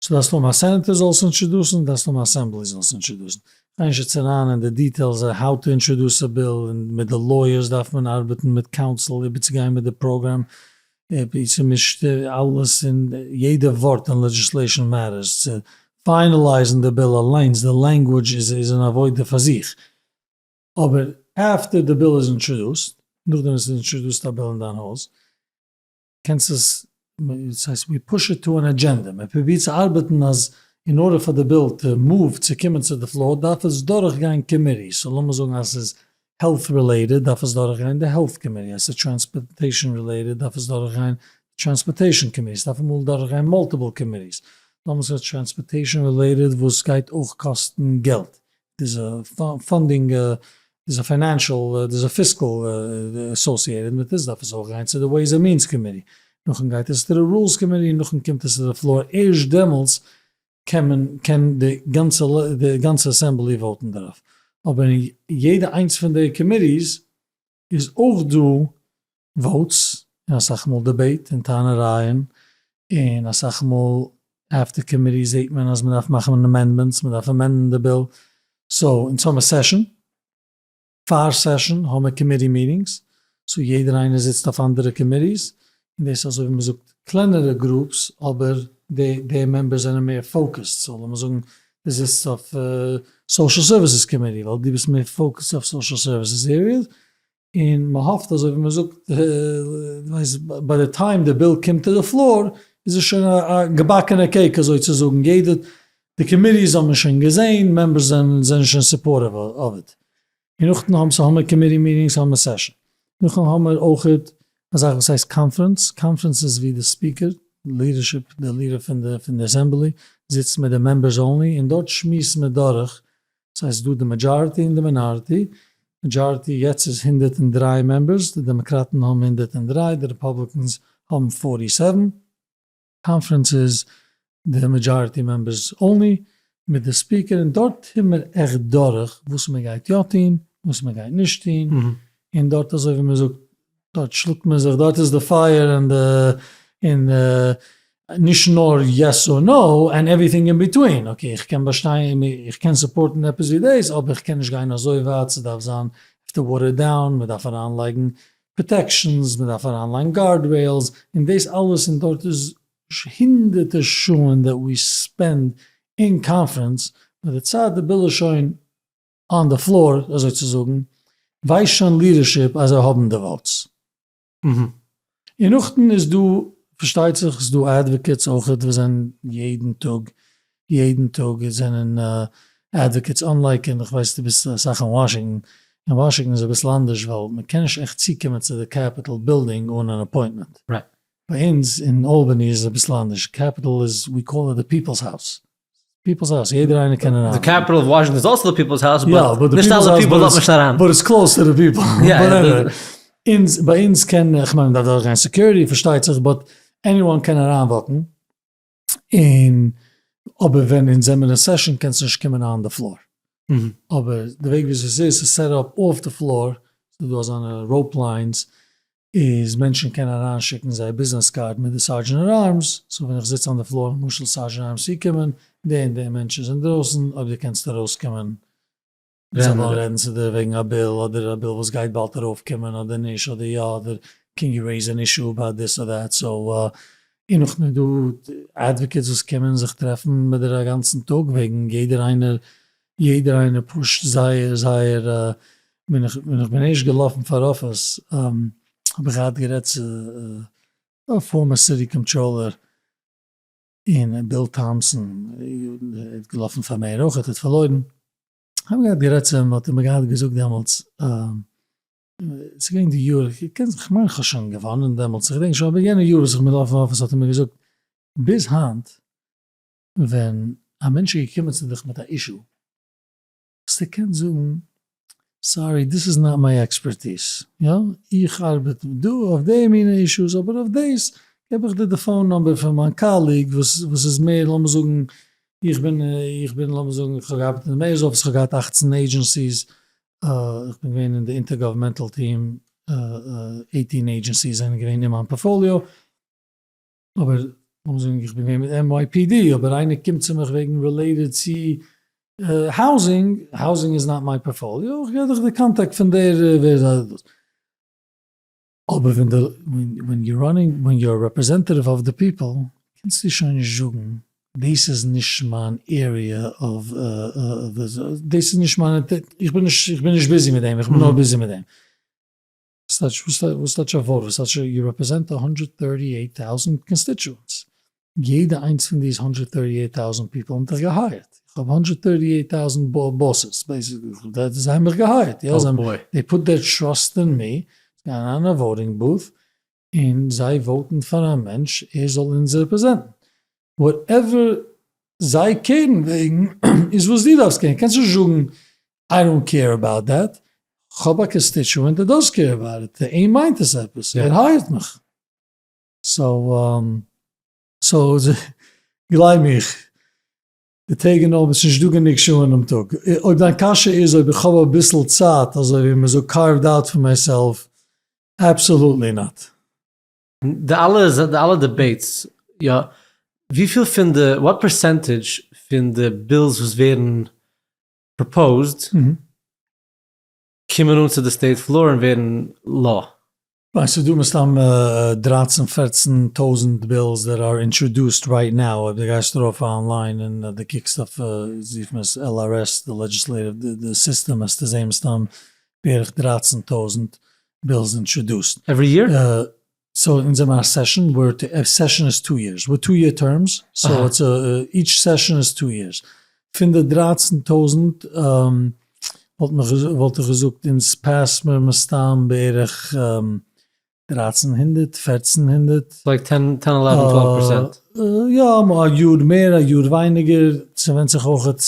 צו דארפסט האבן א סענעטער זאל עס אינטשעדוסען דארפסט האבן א אסעמבלי זאל עס אינטשעדוסען, כ'גיי נישט יעצט אריין אין די דיטעילס האו טו אינטשעדוס א ביל און מיט די לויערס דארף מען ארבעטן מיט קאונסיל איבערצוגיין מיט די פראגראם אפי' ס'מישט אלעס און יעדע ווארט אין לעדזשיסלעישאן מעטערס צו פיינעלייזן די ביל אליינס די לענגווידזש איז איז אן עבודה פאר זיך אבער אפטער די ביל איז אינטשעדוסט נאכדעם וואס ס'איז אינטשעדוסט א ביל אין דיין הויז קענסט עס, דאס הייסט ווי פוש איט טו ען אדזשענדע, מען פרובירט צו ארבעטן אז אין ארדער פאר די ביל טו מאוו צו קומען צו די פלאר דארף עס דורך גיין קאמיטי, סאו לאמיר זאגן אז עס איז העלט רילעיטעד דארף עס דורך גיין די העלט קאמיטי, אז עס איז טראנספארטעישן רילעיטעד דארף עס דורך גיין די טראנספארטעישן קאמיטי, עס דארף אמאל דורך גיין מאלטיפעל קאמיטיס, דאמאלס איז עס טראנספארטעישן רילעיטעד וואס גייט אויך קאסטן געלט, דאס פאנדינג איז א פיינענשעל, דאס איז פיסקעל אסאסיעטעד מיט עס, דארף עס אויך גיין צו די וועיז ענד מיענס קאמיטי, נאכדעם גייט עס צו די רולס קאמיטי, און נאכדעם קומט עס צו די פלאר, ערשט דעמאלטס קען מען, קען די גאנצע, די גאנצע אסעמבלי וואוטן דערויף, אבער אין יעדע איינס פון די קאמיטיס איז אויך דא וואוטס און אסאך מאל דיבעיט און טענה'רייען און אסאך מאל עפטער קאמיטי זעהט מען אז מ'דארף מאכן אמענדמענטס, מ'דארף אמענדן די ביל, סאו אונז האמיר סעשאן, פער סעשאן האמיר קאמיטי מיטינגס, סאו יעדער איינער זיצט אויף אנדערע קאמיטיס און דאס איז אזוי ווי מ'זאגט קלענערע גרופס אבער די די מעמבערס זענען מער פאוקעסד סאו לאמיר זאגן די זיצסט אויף סאושעל סערוויסעס קאמיטי ווייל די ביסט מער פאוקעסד אויף סאושעל סערוויסעס עריעס און מ'האפט אזוי ווי מ'זאגט ביי די טיים די ביל קומט טו די פלאר איז עס שוין א געבאקענע קעיק אזוי צו זאגן יעדע די קאמיטיס האבן עס שוין געזעהן מעמבערס זענען שוין סופארטיוו אוו איט און נאכדעם האבן סאמער קאמיטי מיטינגס סאמער סעשאן, נאכדעם האמער אויכעט א זאך וואס הייסט קאנפרענס, קאנפרענס איז ווי די ספיקער, לידערשיפ, דער לידער פון די פון די אסעמבלי זיצט מיט די מעמבערס אנלי און דארט שמועסט מען דורך, סאיז איז דא די מעדזשארטי און די מינארטי, מעדזשארטי יעצט איז הונדערט און דרײַ מעמבערס, די דעמאקראטן האבן הונדערט און דרײַ, די רעפאבליקענס האבן פֿארטי סעווען, קאנפרענס איז די מעדזשאריטי מעמבערס אנלי מיט די ספיקער און דארט טוהן מיר עכט דורך וואס מען גייט יא טוהן וואס מען גייט נישט טוהן און דארט אזוי ווי מען זאגט דארט שלאגט מען זיך דארט איז די פייער און די און נישט נאר יעס אר נאו און עווריטינג אין ביטווין אקעי איך קען באשטיין איך קען סופארטן עפעס ווי דאס אבער איך קען נישט גיין אזוי ווייט ס'דארף זיין וואטערד דאון מען דארף אריינלייגן פראטעקשאנס, מ'דארף אריינלייגן גארדרעילס, און דאס אלעס, און דארט איז הונדערטער שעה דעט ווי ספענד אין קאנפרענס, מיט די צייט די ביל איז שוין אן די פלאר אזוי צו זאגן, ווייסט שוין לידערשיפ אז זיי האבן די וואוטס. אהה. און נאכדעם איז דא, פארשטייט זיך, ס'איז דא אדוואקעטס אויכעט וואס זענען יעדן טאג יעדן טאג עס זענען אדוואקעטס אנלייק און איך ווייס דו ביסט אסאך אין וואשינגטאן, אין וואשינגטאן איז אביסל אנדערש ווייל מען קען נישט עכט צוקומען צו די קעפיטאל בילדינג אן אן אפוינטמענט. ביי אונז אין אלבאני איז עס אביסל אנדערש, קעפיטאל איז ווי קאל איט די פיפעלס האוס, פיפעלס האוס יעדער איינער קען אריין. די קעפיטאל אוו וואשינגטאן איז אלסא די פיפעלס האוס באט נישט אלע פיפעל לאזט נישט אריין. באט איטס קלאוס טו די פיפעל. אונז ביי אונז קען, איך מיין מען דארף דורכגיין סעקיוריטי פארשטייט זיך, באט עניוואן קען אריינוואקן. און אבער ווען אונז זעמיר אין סעשאן קענסטו נישט קומען אהן די פלאר. אבער די וועג וויאזוי עס איז, ס'איז סעט אפ אויף די פלאר, ס'איז דא אזאנע ראופ ליינס, איז מענטשן קענען אריינשיקן זייער ביזנעס קארד מיט די סארדזשענער ארמס, סאו ווען איך זיץ אן די פלאר למשל סארדזשענער ארמס צוקומען, די און די מענטש איז אינדרויסן, אויב די קענסט ארויסקומען. מען זאל נאר רעדן צו די וועגן א ביל אדער א ביל וואס גייט באלד ארויף קומען אדער נישט אדער יא אדער קען יו רעיז ען אישו אבאוט דיס אר דעט סאו און נאך מער דא אדוואקעטס וואס קומען זיך טרעפן מיט דיר א גאנצן טאג וועגן יעדער איינער יעדער איינער פושט זייער זייער ווען איך ווען איך בין ערשט געלאפן פאר אפיס האב איך געהאט גערעדט צו א פארמער סיטי קאנטראלער. און ביל טאמפסאן איז געלאפן פאר מעיאר אויך האט פארלוירן, כ'האב געהאט גערעדט צו אים האט ער מיר געהאט געזאגט דעמאלטס, ס'איז געווען די יאר, כ'מיין כ'האב שוין געוואנען דעמאלטס, איך דענק שוין אבער יענע יאר וואס איך בין געלאפן פאר אפיס האט ער מיר געזאגט ביז היינט ווען א מענטש איז געקומען צו דיך מיט א אישו, וואס ער קען זאגן, סארי דאס איז נאט מיי עקספערטיס, יא איך ארבעט דא אויף די מינע אישוס אבער אויף דאס געב איך דיר די פאון נומבער פון מיין קאליג וואס איז מער לאמיר זאגן איך בין איך בין לאמיר זאגן איך האב געארבעט אין די מעיאר'ס אפיס איך האב געהאט אַכצן עידזשענסיס איך בין געווען אין די אינטער גאווערמענטעל טיעם עיטין עידזשענסיס זענען געווען אין מיין פארפאליאו. אבער לאמיר זאגן איך בין געווען מיט NYPD אבער איינער קומט צו מיך וועגן רילעיטעד צו האוזינג, האוזינג איז נאט מיי פארפאליאו, איך גיב דיך די קאנטאקט פון דער ווער איז א. אבער ווען די ווען יו ראנינג ווען יו אר רעפרעזענטעטיוו אוו די פיפעל קענסטו שוין נישט זאגן דאס איז נישט מיין עריע אוו דאס איז נישט מיין איך בין נישט איך בין נישט ביזי מיט דעם איך בין נאר ביזי מיט דעם. וואס טייטש א וואוט? וואס טייטש יו רעפרעזענט א הונדרעט טערטי עיט טאוזענט קאנסטיטשוענטס? יעדע איינס פון די איז הונדרעט טערטי עיט טאוזענט פיפל האבן דיך געהייערט. איך האב הונדרעט טערטי עיט טאוזענט באסעס בעיסיקלי. זיי האבן מיך געהייערט. יא, זיי האבן, דעי פוט דעיר טראסט אין מי. זיי גייען אריין אין א וואוטינג בוט און זיי וואוטן פאר א מענטש ער זאל אונז רעפרעזענטן. וואטעווער זיי קעירן וועגן איז וואס דו דארפסט קעירן. קענסט נישט זאגן איי דאנט קעיר אבאוט דעט, כ'האב א קאנסטיטשוענט וואס דאס קעיר אבאוט איט, פאר אים מיינט עס עפעס, ער הייערט מיך. סאו סאו גלייב מיך, די טעג און נאכט, עס איז נישט דא גענוג שעה אינעם טאג. אויב דיין קשיא איז אויב איך האב אביסל צייט, אזוי ווי מ'זאגט קארוו'ד אוט פאר מיי סעלף, אבסאלוטלי נאט. די אלע די אלע דיבעיטס, יא, וויפיל פון די, וואט פערסענטעדזש פון די בילס וואס ווערן פראפאוזד קומען אן צו די סטעיט פלאר און ווערן לאו. ניין סאיז דא מסתם דרײַצן פֿערצן טויזענט בילס דעט אר אינטראדוסט רייט נאו אויב די גייסט ארויף אן ליין און די קוקסט אויף זיך מען עס על אר עס די לעדזשיסלעטיוו די סיסטעם העסטו זעהן מסתם בערך דרײַצן טויזענט בילס אינטראדוסט עווערי יער. סאו אונז האבן א סעשאן וואו די סעשאן איז טו יערס מיט טו יער טערמס, סאו איטס איטש סעשאן איז טו יערס, פון די דרייצן טויזנט וואלט איך געזאגט אונז פעסט מיר מסתם בערך דרייצן הונדערט פערצן הונדערט, לייק טען טען עלעווען טוועלוו פערסענט? יא א יאר מער א יאר ווייניגער, ס'ווענדט זיך אויכעט,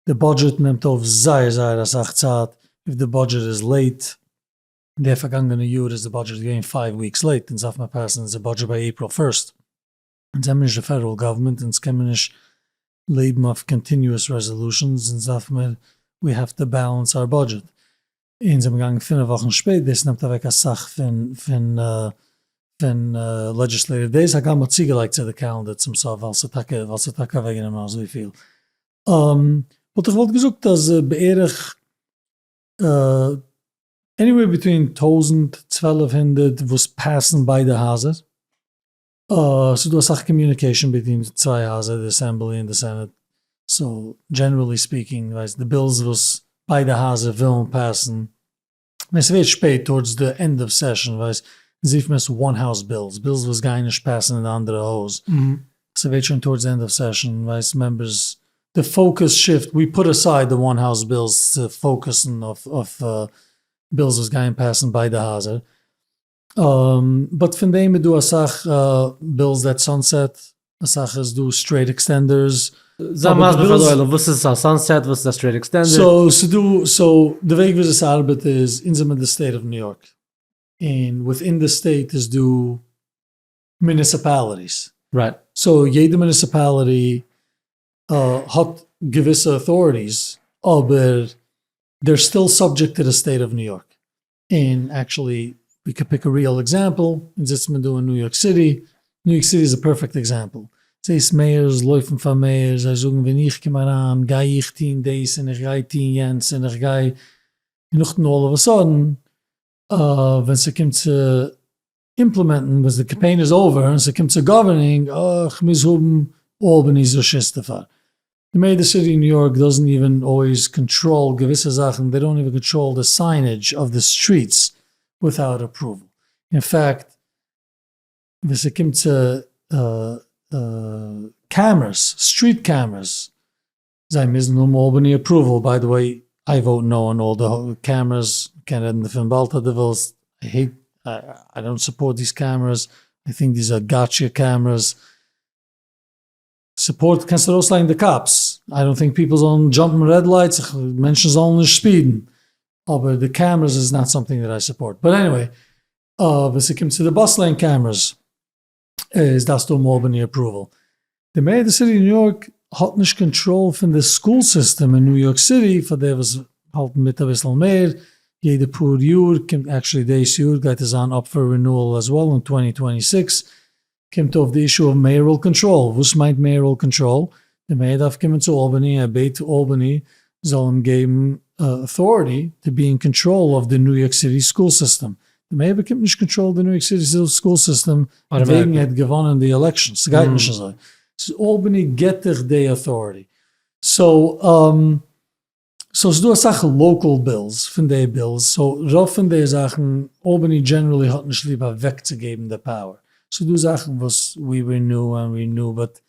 די בודזשעט נעמט אויף זייער זייער אסאך צייט, אויב די בודזשעט איז לעיט. די פארגאנגענע יאר איז די בודזשעט געווען פייוו וויקס לעיט, אונז דארף מיר פעסן אונזער בודזשעט ביי עיפריל פירסט, אונז זעמיר נישט די פעדעראל גאווערמענט, אונז קעמיר נישט לעבן אויף קאנטיניועס רעזעלושענס, אונז דארף מיר ווי העוו טא בעלענס אווער בודזשעט, אונז זעמיר געגאנגען פינעף וואכן שפעט, דאס נעמט אוועק אסאך פון פון לעדזשיסלעיטיוו דעיס, הגם מ'האט צוגעלייגט צו די קעלענדער צום סוף ווייל ס'איז טאקע ווייל ס'איז טאקע אוועקגענומען אזויפיל, וואלט איך וואלט געזאגט אז בערך עניוועיר ביטווין טויזנט צוועלף הונדערט וואס פעסן ביידע הייזער, ס'איז דא אסאך קאמיוניקעישאן ביטווין די צוויי הייזער די אסעמבלי און די סענעט, סאו דזשענערעלי ספיקינג ווייסט די בילס וואס ביידע הייזער ווילן פעסן, ווען ס'ווערט שפעט טארדס די ענד אוו סעשאן ווייסט זיפט מען עס וואן האוז בילס, בילס וואס גייען נישט פעסן אין די אנדערע הויז, ס'ווערט שוין טארדס ענד אוו סעשאן ווייסט מעמבערס די פאוקוס שיפט, ווי פוט אסייד די וואן האוז בילס צו פאוקוסן אויף בילס וואס גייען פעסן ביידע הייזער, באט פון דעם איז דא אסאך בילס דעט סאנסעט, אסאך איז דא סטרעיט עקסטענדערס. זיי מסביר פאר די עולם וואס איז א סאנסעט וואס איז א סטרעיט עקסטענדער. סאו ס'דא סאו די וועג וויאזוי ס'ארבעט איז אונז זעמיר די סטעיט אוו ניו יארק און וויטין די סטעיט איז דא מוניסיפאליטיס, רייט, סאו יעדע מוניסיפאליטי האט געוויסע אוטאריטיס אבער דער סטיל סאבדזשעקט טו די סטעיט אוו ניו יארק, און עקטשעלי ווי קען פיק א ריעל עקזעמפעל, אונז זיצט מיר דא אין ניו יארק סיטי, ניו יארק סיטי איז א פערפעקט עקזעמפעל, זעהסט מעיארס לויפן פאר מעיאר זיי זאגן ווען איך קום אריין גיי איך טוהן דאס און איך גיי טוהן יענץ און איך גיי און נאכדעם אלל אוו א סאדען ווען ס'קומט צו אימפלעמענטן ווען די קאמפיין איז אווער און ס'קומט צו גאווערנינג, אה, כ'מוז האבן אלבעני'ס רשות דערפאר. די מעידער סיטי און ניו יארק דאזענט איווען אלוועיז קאנטראל געוויסע זאכן, דעי דאונט איווען קאנטראל די סיינעדזש אויף די סטריטס וויטאוט אפראוועל. אין פעקט ווען ס'קומט צו קעמערעס, סטריט קעמערעס, זיי מוזן האבן אלבאני אפראוועל, ביי די וועי איי וואוט נאו אן אלל די קעמרעס, מ'קען רעדן דערפון באלד אז די ווילסט, איי העיט, איי דאנט סופארט דיז קעמרעס, איי טינק דיז אר גאטשע קעמרעס, סופארט קענסט ארויס לייגן די קאפס, איי דאנט טינק פיפל זאלן דזשאמפן רעד לייטס, מענטשן זאלן נישט ספידן, אבער די קעמרעס איז נאט סאמטינג דעט איי סופארט, באט עניוועי, ווען ס'קומט צו די באס לעין קעמרעס, איז דארפסטו האבן אלבאני אפראוועל. די מעיאר די סיטי ניו יארק האט נישט קאנטראל פון די סקול סיסטעם אין ניו יארק סיטי פאר די וואס האלטן מיט אביסל מער יעדע פאר יאר קומט עקשעלי דאס יאר גייט עס זיין אפ פאר רינועל אז וועל און טווענטי טווענטי סיקס קומט אויף די אישו אוו מעיארעל קאנטראל וואס מיינט מעיארעל קאנטראל די מעיאר דארף קומען צו אלבעני, ער בעט אלבעני זאל אים געבן אוטאריטי טו בי אין קאנטראל אויף די ניו יארק סיטי סקול סיסטעם, די מעיאר באקומט נישט קאנטראל די ניו יארק סיטי סקול סיסטעם וועגן ער האט געוואנען די עלעקשאן, סגייט נישט אזוי, סאיז אלבעני געט דיך דעי אוטאריטי, סאו סאו ס'דא אסאך לאקעל בילס פון די בילס, סאו רוב פון די זאכן, אלבאני דזשענערלי האט נישט ליב אוועקצוגעבן די פאוער, ס'דא זאכן וואס ווי רינעו ענד רינעו באט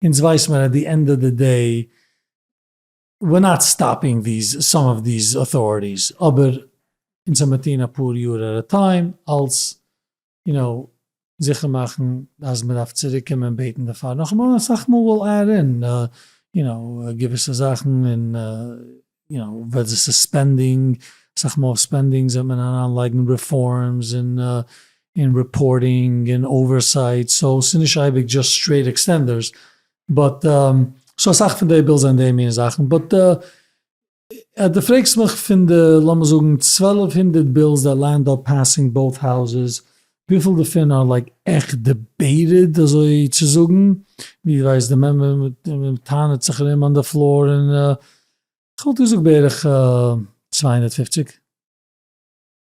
אונז ווייס מיר עט די ענד אוו די דעי וויר נאט סטאפינג דיס סאם אוו דיס אוטאריטיס אבער אונז האמיר טוהן אפאר יאר עט א טיים אלס יו נאו, זיכער מאכן אז מען דארף צוריק קומען בעטן דערפאר נאכאמאל, אסאך מאל וויל אייער און יו נאו געוויסע זאכן און יו נאו וועט זיי סוספענדינג, אסאך מאל אויף ספענדינגס וועט מען אריין לייגן רעפארמס און רעפארטינג און אווערסייט, סאו ס'איז נישט אייביג דזשאסט סטרעיט עקסטענדערס, באט סאו אסאך פון די בילס זענען די מין זאכן, באט אז דו פרעגסט מיך פון די לאמיר זאגן צוועלף הונדערט בילס דער לענד אר פעסינג בויט האוזעס וויפיל דערפון אר לייק עכט דיבעיטעד אזוי צו זאגן ווי דו ווייסט די מעמבער טענה'ט זיך ארום אן די פלאר און כ'וואלט געזאגט בערך צוויי הונדערט פופציג.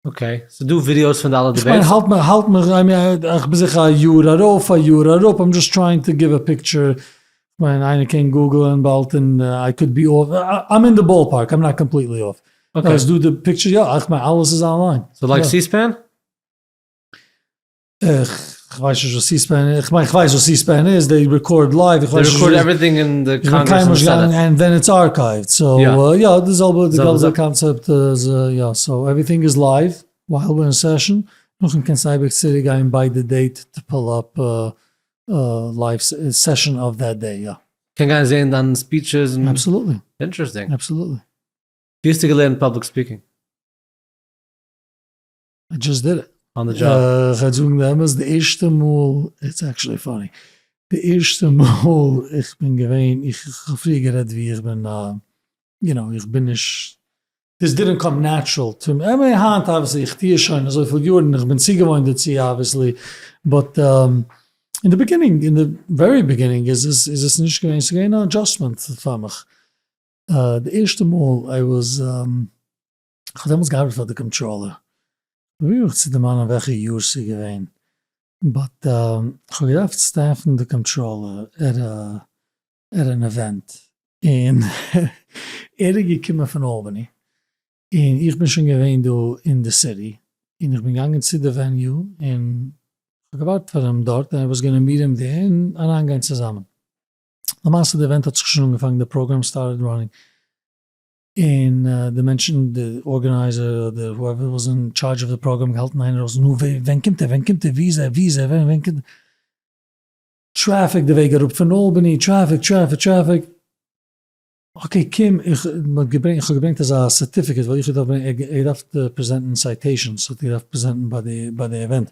אקעי, ס'איז דא ווידיאוס פון די אלע דיבעיטס? איך מיין האלט מיך האלט מיך איי מין איך בין זיכער א יאר ארויף א יאר אראפ איים דזשאסט טרייענג טו גיוו א פיקטשער, כ'מיין איינער קען גוגלען באלד און איי קאוד בי אףף, איים אין די באל פארק איים נאט קאמפליטלי אףף, אויב איז דא די פיקטשער יא, איך מיין אלעס איז אנליין. סאו לייק סי ספען? כ'ווייס נישט וואס סי-ספען איז, כ'מיין כ'ווייס וואס סי-ספען איז, זיי רעקארד לייוו, איך ווייס נישט וואס, איך בין קיינמאל נישט געגאנגען און ווען איטס ארקייווט, סאו יא די זעלבע די זעלבע קאנצעפט איז יא, סאו עווריטינג איז לייוו ווייל ווען סעשאן, נאכדעם קענסטו אייביג צוריק גיין ביי די דעיט טו פול אפ לייוו סעשאן אוו דעט דעי יא. קען גיין זעהן דיין ספיטשעס און. אבסעלוטלי. אינטערעסטינג. אבסעלוטלי. ווי האסטו געלערנט פאבליק ספיקינג? דזשאסט דיד איט. אן די דזשאב. כ'על זאגן די אמת, די ערשטע מאל, איטס עקטשעלי פאני, די ערשטע מאל איך בין געווען, איך האב פריער גערעדט ווי איך בין א, יו נאו, איך בין נישט, דיס דידענט קאם נעטשרעל טו מי, עמי היינט אבוויסלי איך טוה עס שוין אזויפיל יארן און איך בין צוגעוואוינט דערצו אבוויסלי, באט אין די ביגינינג, אין די ווערי ביגינינג איז עס איז עס נישט געווען, ס'איז געווען אן אדזשאסטמענט פאר מיך, די ערשטע מאל איי וואס. איך האב דעמאלס געארבעט פאר די קאמטראלער, פרוביר איך צו דערמאנען וועלכע יאר ס'איז געווען, באט איך האב געדארפט סטעפן די קאמטראלער עט ען איווענט, און ער איז געקומען פון אלבאני, און איך בין שוין געווען דא אין די סיטי, און איך בין געגאנגען צו די וועניו, און כ'האב געווארט פאר אים דארט, און ער וואס גענומען מיר אים דער, און אריין גיין צוזאמען, למעשה די איווענט האט זיך שוין אנגעפאנגען, די פראגראם סטארטעד ראנינג, און די מענטשן די ארגענייזער אדער הואעווער וואס איז אין טשארדזש אוו די פראגראם געהאלטן איינער אויס נו ווער ווען קומט ער ווען קומט ער ווי איז ער ווי איז ער ווען קומט ער טרעפיק די וועג אראפ פון אלבעני טרעפיק טרעפיק טרעפיק אקעי קום איך מ'האט געברענגט איך האב געברענגט אזא סערטיפיקעט ווייל איך האב געדארפט ברענגען ער האט געדארפט פרעזענטן סייטעישאנס האט ער געדארפט פרעזענטן ביי די ביי די אווענט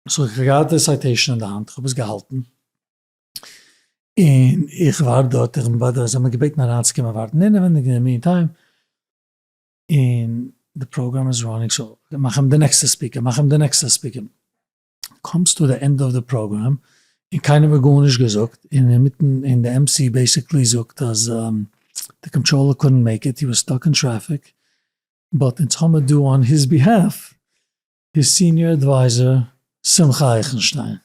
סאו איך האב געהאט די סייטעישאן אין די האנט איך האב עס געהאלטן. און איך ווארט דארט, איך בין ביי די, זיי האבן מיר געבעטן אריינצוקומען ווארטן אינעווייניג, און אין די מיענטיים, און די פראגראם איז ראנינג, סאו מאך אים די נעקסטע ספיקער, מאך אים די נעקסטע ספיקער, קומסט צו די ענדע אוו די פראגראם, און קיינער האט גארנישט געזאגט, און אינמיטן, און די MC בעיסיקלי זאגט אז די קאנטראלער קאדנט מעיק איט, הי וואס סטאק אין טרעפיק, באט אונז האמיר דא אן היז ביהעלף, היז סיניער עדווייזער שמחה אייכנשטיין,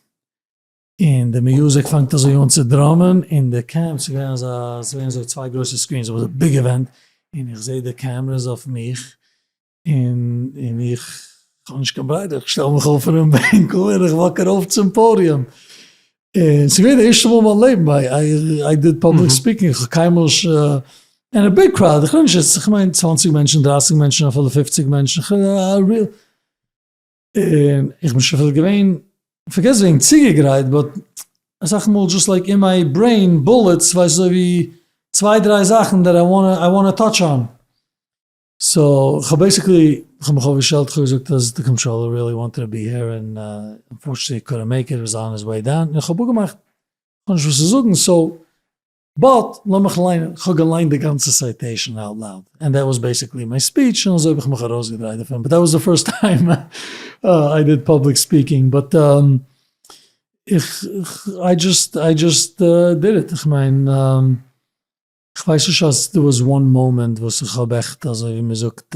און די מיוזיק פאנגט אזוי אן צו דראמען, און די קעמפ ס'איז געווען אזא ס'איז געווען אזוי צוויי גרויסע סקרינס אבער אזוי ביג עווענט, און איך זעה די קעמרעס אויף מיך, און און איך כ'האב נישט קיין בריידער איך שטעל מיך אויף פונעם בענקל און איך וואק ארויף צום פאדיום, און ס'איז געווען די ערשטע מאל אין מיין לעבן איי דיד פאבליק ספיקינג, כ'האב קיינמאל נישט אין א ביג קראוד, איך רעד נישט יעצט כ'מיין צוואנציג מענטשן, דרייסיג מענטשן, אפילו פופציג מענטשן, א ריל. און איך בין שוין כ'וואלט געווען, פארגעס וועגן צוגעגרייט, באט אסאך מאל דזשאסט לייק אין מיי ברעין בולעטס, ווייסט אזוי ווי צוויי דריי זאכן דעט איי וואנט איי וואנט טאטש אן. סאו כ'האב בעיסיקלי כ'האב מיך אויף געשטעלט כ'האב געזאגט אז די קאנטראלער ריעלי וואנטעד טו בי הער און אנפארטשענעטלי קאנט מעיק איט, איז אן היז וועי דאון, און כ'האב אפגעמאכט כ'האב נישט וואס צו זאגן סאו. באט לאמיך ליינען, כ'האב געליינט די גאנצע סייטעישאן אוט לאוד, ענד דעט וואס בעסיקלי מיי ספיטש, און אזוי האב איך מיך ארויסגעדרייט דערפון, באט דעט וואס די פירסט טיים איי דיד פובליק ספיקינג, באט איך איי דזשאסט איי דזשאסט דיד איט, כ'מיין כ'ווייס נישט אז דא וואס וואן מאמענט וואס איך האב עכט אזוי ווי מ'זאגט.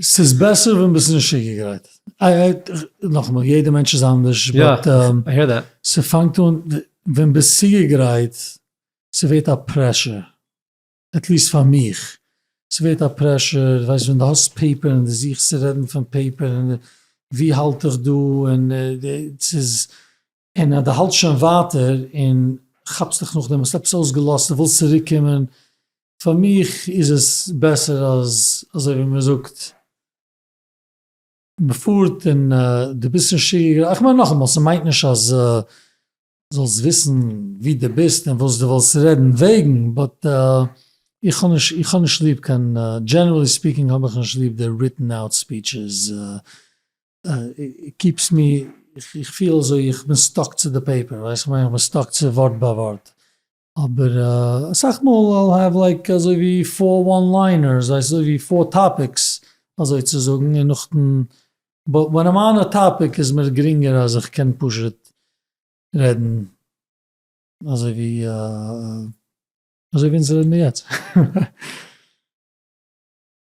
ס'איז בעסער ווען ביסט נישט צוגעגרייט. נאכאמאל, יעדע מענטש איז אנדערש, באט ס'פאנגט אן ווען ביסט צוגעגרייט, ס'ווערט א פרעשור, עטליסט פאר מיך, ס'ווערט א פרעשור, ווייסט ווען די האסט פעיפער און די זוכסט צו רעדן פון פעיפער און ווי האלט איך דא און ס'איז און אז דו האלטסט שוין ווייטער און כאפסט דיך נאכדעם, האסט עפעס אויסגעלאזט און ווילסט צוריק קומען, פאר מיך איז עס בעסער אז אזוי ווי מען זאגט, מען פארט און דו ביסט נישט צוגעגרייט, איך מיין נאכאמאל, ס'מיינט נישט אז זאלסט וויסן וואו דו ביסט און וואס דו ווילסט רעדן וועגן, באט איך האב נישט איך האב נישט ליב קיין, דזשענערלי ספיקינג האב איך נישט ליב די ריטען אוט ספיטשעס, קיפס מי, איך פיל אזוי איך בין סטאק צו די פעיפער, ווייסט וואס איך מיין, איך בין סטאק צו ווארט ביי ווארט, אבער אסאך מאל איי וויל העוו לייק אזוי ווי פאר וואן ליינערס, ווייסט אזוי ווי פאר טאפיקס אזוי צו זאגן, און נאכדעם באט ווען איים אן א טאפיק איז מיר גרינגער אז איך קען פשוט רעדן אזוי ווי אזוי ווי אונז רעדן מיר יעצט.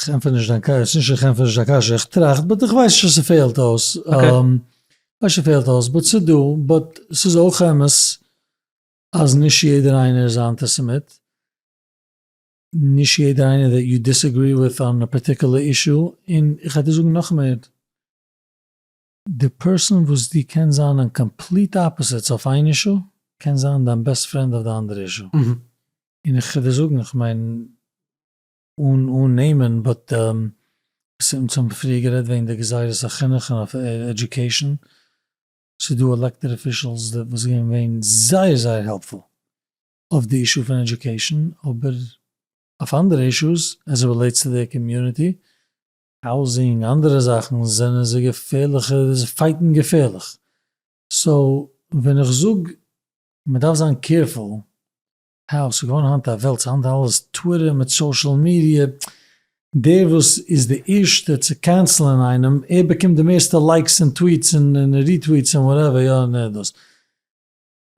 כ'ענטפער נישט דיין קשיא, ס'נישט איך ענטפער נישט דיין קשיא, איך טראכט, באט איך ווייס נישט צו ס'פעלט אויס, כ'ווייס ס'פעלט אויס, באט ס'דא, באט ס'איז אויך אמת אז נישט יעדער איינער איז א אנטיסעמיט, נישט יעדער איינער דעט יו דיסעגרי וויט אן א פארטיקולער אישו, און כ'על דיר זאגן נאך מער, די פערסאן וואס דו קענסט זיין אן קאמפליט אפאזיטס אויף איין אישו, קען זיין דיין בעסט פרענד אויף די אנדערע אישו, און כ'על דיר זאגן, כ'מיין. אן אן נעמען באט אונז האבן פריער גערעדט וועגן די גזירת החינוך און אויף עדיוקעישן, ס'איז דא עלעקטעד אפישעלס וואס זענען געווען זייער זייער העלפפול אויף די אישו פון עדיוקעישן, אבער אויף אנדערע אישוס עז איט רילעיטס טו דעיר קאמיוניטי, האוזינג, אנדערע זאכן, זענען זיי געפערליכע, זיי פייטן געפערליך, סאו ווען איך זאג מ'דארף זיין קעירפול האו, ס'איז געווארן היינט א וועלט, ס'איז היינט אלעס טוויטער מיט סאושעל מידיע, דער וואס איז די ערשטע צו קענסלען איינעם, ער באקומט די מערסטע לייקס און טוויטס און ריטוויטס און וואטעווער, יא און דאס,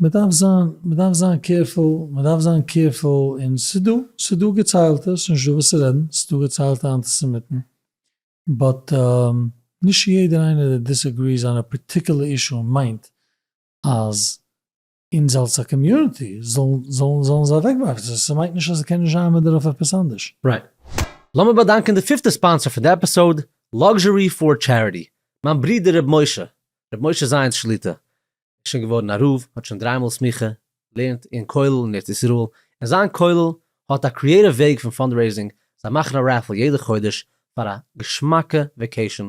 מ'דארף זיין, מ'דארף זיין קערפול, מ'דארף זיין קערפול, און ס'איז דא, ס'איז דא געציילטע, ס'איז נישטא וואס צו רעדן, ס'איז דא געציילטע אנטיסעמיטן, באט נישט יעדער איינער דער דיסעגריס אן א פארטיקולער אישו מיינט אז אונז אלס א קאמיוניטי זאלן זאלן זיי אוועקווארפן, סאו ס'מיינט נישט אז עס קען נישט זיין מען דארף עפעס אנדערש. רייט. לאמיר באדאנקען די פיפטע ספאנסער פון די עפיסאוד, Luxury for Charity, מיין ברודער ר' משה, ר' משה זיינס שליט א, איז שוין געווארן א רב, האט שוין דריי מאל סמיכה, לערנט אין כולל אין ארץ ישראל, און זיין כולל האט א קריעטיוו וועג פון פאנדרעיזינג, זיי מאכן א רעפל יעדע חודש פאר א געשמאקע וועקעישאן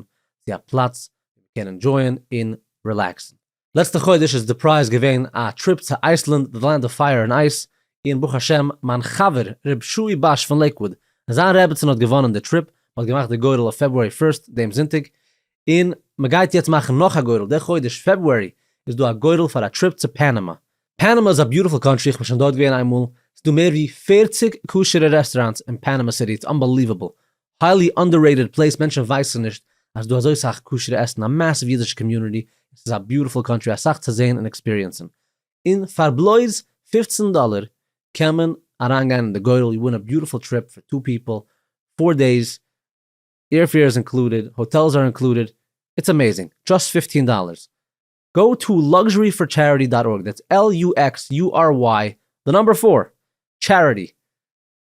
צו א פלאץ ווי מ'קען ענדשויען און רילעקסן, לעצטע חודש איז די פרייז געווען א טריפ צו אייסלענד די לענד אוו פייער און אייס, און ברוך השם מיין חבר ר' שועי באש פון לעיקוואוד און זיין רעבעצין האט געוואנען די טריפ, מען האט געמאכט די גורל אויף פעברוארי פירסט דעם זונטאג, און מען גייט יעצט מאכן נאך א גורל די חודש פעברוארי איז דא א גורל פאר א טריפ צו פענעמא. פענעמא איז א ביוטיפול קאנטרי איך בין שוין דארט געווען איינמאל, ס'דא מער ווי פֿערציק כשר'ע רעסטוראנטס אין פענעמא סיטי איטס אנבעליוועבל, היילי אנדעררעיטעד פלעיס, מענטשן ווייסן נישט אז ס'איז דא אזוי סאך כשר'ע עסן, א מאסיוו אידישע קאמיוניטי, און ס'איז א ביוטיפול קאנטרי, אסאך צו זעהן און עקספיריענסן, און פאר בלויז פֿופֿצן דאלער קען מען אריינגיין אין די גורל, יו ווין א ביוטיפול טריפ פאר טו פיפל, פאר דעיס, עירפעיר איז אינקלודעד, האטעלס אר אינקלודעד, איטס אמעיזינג, דזשאסט פֿופֿטין דאלערס, גאו טו לאקזשערי פאר טשעריטי דאט ארג, דעטס LUXURY די נאמבער פאר טשעריטי,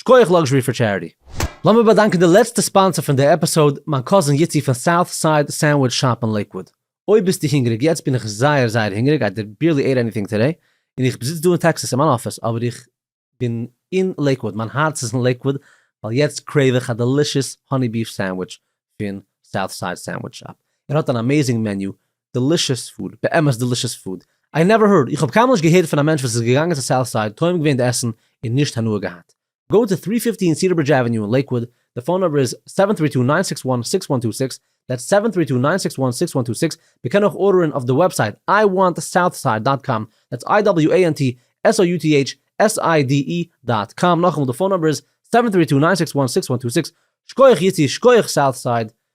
שקויעך לאקזשערי פאר טשעריטי. לאמיר באדאנקען די לעצטע ספאנסער פון די עפיסאוד, מיין קאזין יצי פון סאוט סייד סענדוויטש שאפ אין לעיקוואד. אויב ביסטו הונגעריג, יעצט בין איך זייער זייער הונגעריג, איי בערלי עיט עניטינג טודעי, און איך זיץ דא אין טעקסאס אין מיין אפיס, אבער איך בין אין לעיקוואד, מיין הארץ איז אין לעיקוואד, ווייל יעצט קרעיוו איך א דעלישעס האני ביף סענדוויטש פון סאוט סייד סענדוויטש שאפ. ער האט אן אמעיזינג מעניו, דעלישעס פוד, באמת דעלישעס פוד, איי נעווער הערד, איך האב קיינמאל נישט געהערט פון א מענטש וואס איז געגאנגען צו סאוט סייד, טועם געווען די עסן און נישט הנאה געהאט. גאו טו טרי פיפטין סידער ברידזש עוועניו אין לעיקוואד, די פאון נומבער איז סעווען טרי טו ניין סיקס וואן סיקס וואן טו סיקס, דעטס סעווען טרי טו ניין סיקס וואן סיקס וואן טו סיקס, מען קען אויך ארדערען אויף די וועבסייט איי וואנט סאוט סייד דאט קאם, דעטס איי דאבעליו עי ען טי עס או יו טי עיטש עס איי די אי דאט קאם, נאכאמאל די פאון נומבער איז סעווען טרי טו ניין סיקס וואן סיקס וואן טו סיקס, שקויעך יצי שקויעך סאוט סייד,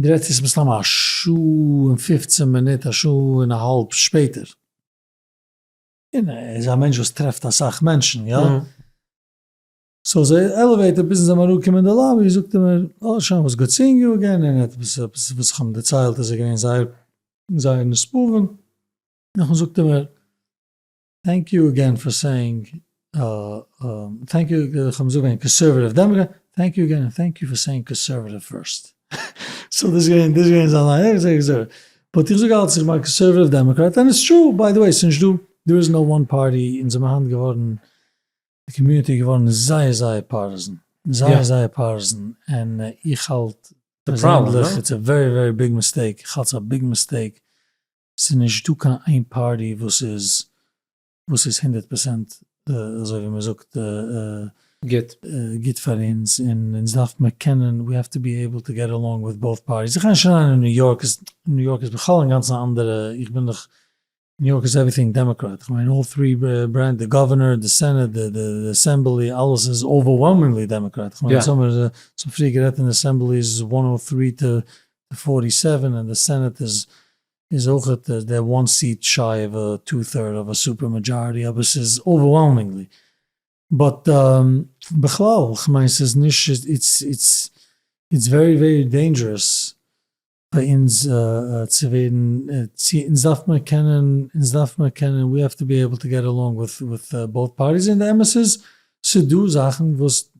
די רעדסט יעצט מסתמא א שעה און פופצען מינוט א שעה און א האלב שפעטער. און ער איז א מענטש וואס טרעפט אסאך מענטשן יא. סאו די עלעוועיטער ביזן זיי האבן אראפגעקומען אין די לאבי זאגט ער מיר אה שוין וואס גוט סינג יו עגעין און עפעס עפעס וואס איך האב אים דערציילט איז ער געווען זייער זייער נשפע און נאכדעם זאגט ער מיר טענק יו אגען פאר סעינג טענק יו איך האב מוז זאגן קאנסערוואטיוו דעמאקרעט טענק יו אגען טענק יו פאר סעינג קאנסערוואטיוו פירסט סאו דאס איז געווען זיין ליין איך זאג איך זאג באט איך זאג אלץ איך בין א קאנסערוואטיוו דעמאקרעט ענד איטס טרו ביי די וועי ס'נישט דא דער איז נאו וואן פארטי אונז האבן היינט געווארן די קאמיוניטי איז געווארן זייער זייער פארטיזען זייער זייער פארטיזען און איך האלט פערזענדליך איטס א ווערי ווערי ביג מיסטעיק איך האלט ס'איז א ביג מיסטעיק ס'איז נישט דא קיין איין פארטי וואס איז וואס איז הונדערט פראצענט אזוי ווי מ'זאגט גוט פאר אונז, און אונז דארף מיר קענען, we have to be able to get along with both parties, איך גיי נישט אריין אין ניו יארק, ניו יארק איז בכלל אינגאנצן א אנדערע, איך בין דאך, ניו יארק איז עווריטינג דעמאקראט, איך מיין אלל טרי ברענטש, די גאווערנער, די סענעט, די די אסעמבלי, אלעס איז אווערוועלמינגלי דעמאקראט, איך מיין אונז האמיר צופרי גערעדט אין אסעמבלי איז וואן און טרי טו די פֿאָרטי סעווען און די סענעט איז איז אויכעט דער וואן סיעט שיי אוו א טו טוירד אוו א סופער מאדזשאריטי אבער ס'איז אווערוועלמינגלי באט בכלל כ'מיין ס'איז נישט איטס איטס איטס ווערי ווערי דעינדזשערעס פאר אונז צו ווערן צו אונז דארף מען קענען אונז דארף מען קענען ווי האו טו בי עיבל טו געט אלאנג וויט וויט באוט פארטיס און די אמת איז ס'דא זאכן וואס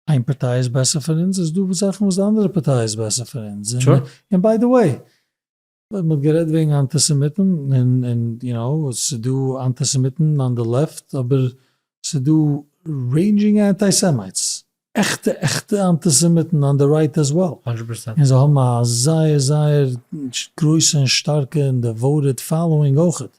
איין פארטיי איז בעסער פון אונז, איז דא זאכן וואס די אנדערע פארטיי איז בעסער פון אונז, און ביי די וועי, מען האט גערעדט וועגן אנטיסעמיטן, און און יו נאו, עס איז דא אנטיסעמיטן אן די לעפט, אבער עס איז דא רעינדזשינג אנטי סעמייטס, עכטע עכטע אנטיסעמיטן אן די רייט עז וועל, און זיי האבן א זייער זייער גרויסע און שטארקע און דעוואוטעד פאלאווינג אויכעט,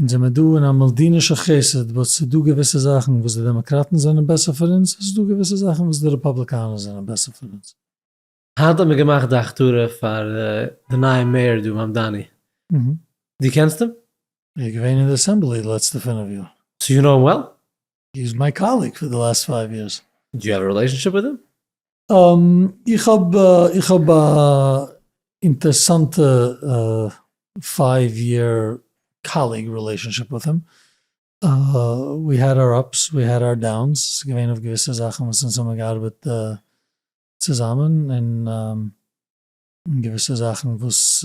אונז זעמער דא אין א מלדינישע חסד וואס ס'איז דא געוויסע זאכן וואס די דעמאקראטן זענען בעסער פון אונז, און ס'איז דא געוויסע זאכן וואס די רעפאבליקאנער זענען בעסער פון אונז. היינט האט מען געמאכט די הכתרה פאר די נייע מעיאר דא מאמדאני, דו קענסט אים? ער איז געווען אין די אסעמבלי די לעצטע פינף יאר. סאו יו נאו אים וועל? הי איז מיי קאליג פאר די לאסט פייוו יערס. דו יו האוו א רילעישאנשיפ וויט הים? איך האב איך האב א אינטערסאנטע פייוו יער קאליג רילעישאנשיפ וויט הים. ווי העד אר אפס ווי העד אר דאונס, ס'איז געווען אויף געוויסע זאכן וואס אונז האבן געארבעט צוזאמען און געוויסע זאכן וואס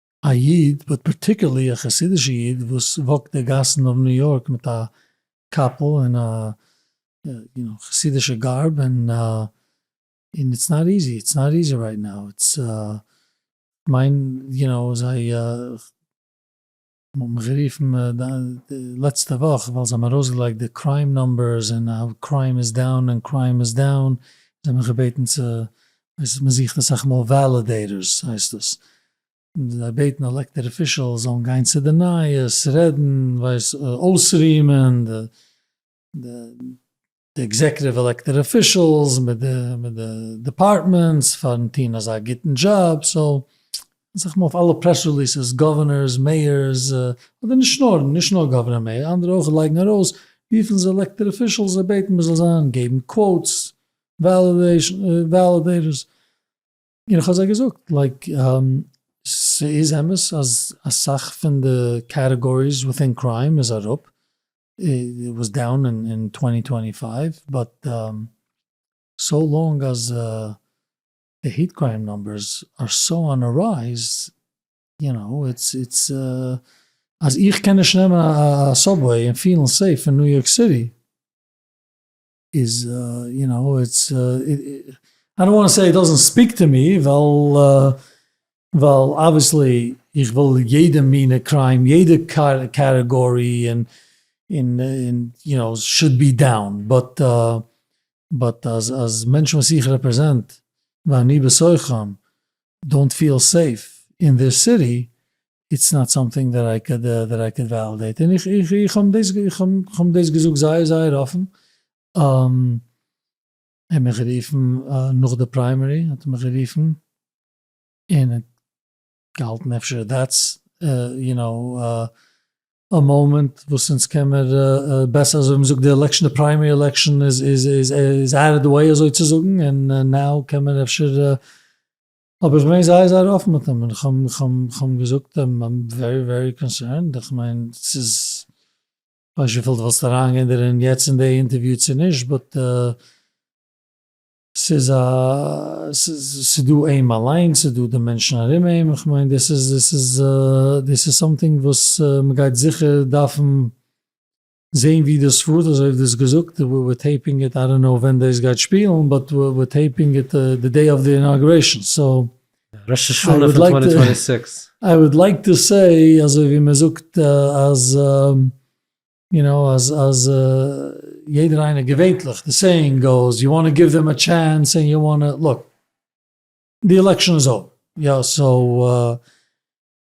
א איד, באט פארטיקערלי א חסידישע איד, וואס וואקט די גאסן אוו ניו יארק מיט א קאפל און א יו נאו חסידישע גארב, און איטס נאט איזי, איטס נאט איזי רייט נאו, איטס כ'מיין יו נאו זיי מ'האט מיך גערופן די לעצטע וואך ווייל זיי האבן ארויסגעלייגט די קריים נומבערס און האו קריים איז דאון און קריים איז דאון, זיי האבן מיך געבעטן צו ווייסט מען זוכט אסאך מאל וועלידעיטארס הייסט דאס, זיי בעטן די עלעקטעד אפישעלס זאלן גיין צו די נייעס, רעדן, ווייסט אויסרימען די עקזעקוטיוו עלעקטעד אפישעלס מיט די דעפארטמענטס פארן טון אזא גוטן דזשאב, סאו אסאך מאל אויף אלע פרעס ריליסעס גאווערנערס, מעיארס, אדער נישט נאר נישט נאר גאווערנער און מעיאר אנדערע אויך לייגן ארויס וויפיל זיי עלעקטעד אפישעלס זיי בעטן מען זאל זיין, געבן קוואוטס וועלידעיטערס, און כ'האב זיי געזאגט לייק ס'איז אמת אז אסאך פון די קעטעגאריס וויטין קריים איז אראפ, וואס דאון אין טווענטי טווענטי פייוו, באט סאו לאנג אז די העיט קריים נומבערס אר סאו אן א רייז, יו נאו, איטס איטס אז איך קען נישט נעמען א סאבוועי און פילן סעיף אין ניו יארק סיטי. איז יו נאו איטס איי דאנט וואנט טו סעי איט דאזענט ספיק טו מי ווייל ווייל אבוויעסלי איך וויל יעדע מינע קריים יעדע קעטעגארי און און און יו נאו שוד בי דאון באט באט אז אז מענטשן וואס איך רעפרעזענט ואני בתוכם דאנט פיעל סעיף אין דער סיטי איטס נאט סאמטינג דעט איי קעד דעט איי קעד וועלידעיט, און איך איך האב דאס איך האב דאס געזאגט זייער זייער אפן, ער האט מיך גערופן נאך די פריימערי האט ער מיך גערופן, און ער האט געהאלטן אפשר דעטס יו נאו א מאמענט וואס אונז קעמער בעסער אזוי, מ'זאגט די עלעקשן די פריימערי עלעקשן איז איז איז אוט אוו די וועי אזוי צו זאגן, און נאו קעמער אפשר האב איך געווען זייער זייער אפן מיט אים, און כ'האב אים געזאגט איים ווערי ווערי קאנסערנד, איך מיין ס'איז, כ'ווייס נישט וויפיל דו וואלסט אריין געווען דערין יעצט אין די אינטערוויו צו נישט, באט ס'איז א, ס'איז דא אים אליינס, ס'איז דא די מענטשן ארום אים, איך מיין דאס איז, דאס איז סאמטינג וואס מ'גייט זיכער דארפן זעהן ווי דאס פארט אזוי ווי דו האסט געזאגט, ווער ווער טעיפינג איט, איי דאנט נאו ווען דאס גייט שפילן, באט ווער ווער טעיפינג איט די דעי אוו די אינאגרעישאן, סאו. ראש השנה פון טווענטי טווענטי סיקס. איי וואלד לייק טו סעי אזוי ווי מען זאגט אז יו נאו אז אז יעדער איינער געווענטליך די סעיאינג גאוס יו וואנט גיוו דעם א טשענס און יו וואנט לוק די עלעקשאן איז אווער יא סאו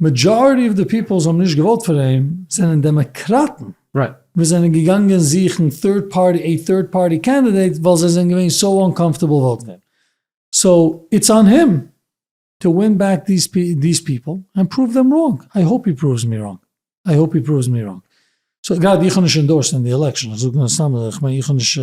מעדזשאריטי אוו די פיפעל האבן נישט געוואוט פאר אים זענען דעמעקראטן וואס זענען געגאנגען זוכן טוירד פארטי עי טוירד פארטי קענדידעיט ווייל זיי זענען געווען סאו אנקאמפטעבל וואוטן אים סאו איטס אן הים טו ווין בעק דיס פיפעל ענד פרואוו דעם ראנג איי האופ הי פרואווס מי ראנג איי האופ הי פרואווס מי ראנג סאו גראדע איך האב נישט אינדארסט אין די עלעקשאן איך זאג נאר סתם איך מיין איך האב נישט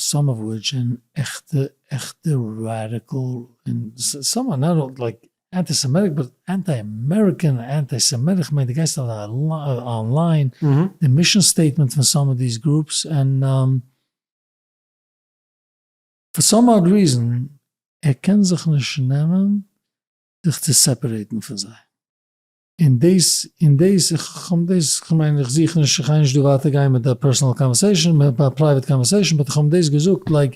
סאם אוו וויטש און עכטע עכטע ראדיקעל און סאם אר נאט אל לייק אנטי סעמעטיק באט אנטי אמעריקען און אנטי סעמעטיק כ'מיין די גייסט אנליין די מישען סטעיטמענט פון סאם אוו דיס גרופס און פאר סאם אד ריזען ער קען זיך נישט נעמען זיך צו סעפערעיטן פון זיי. און דאס און דאס, כ'האב דאס, כ'מיין איך זוך נישט, כ'גיי נישט דא ווייטער גיין מיט א פערסענעל קאנווערסעישן, א פרייוועט קאנווערסעישן, באט כ'האב אים דאס געזאגט לייק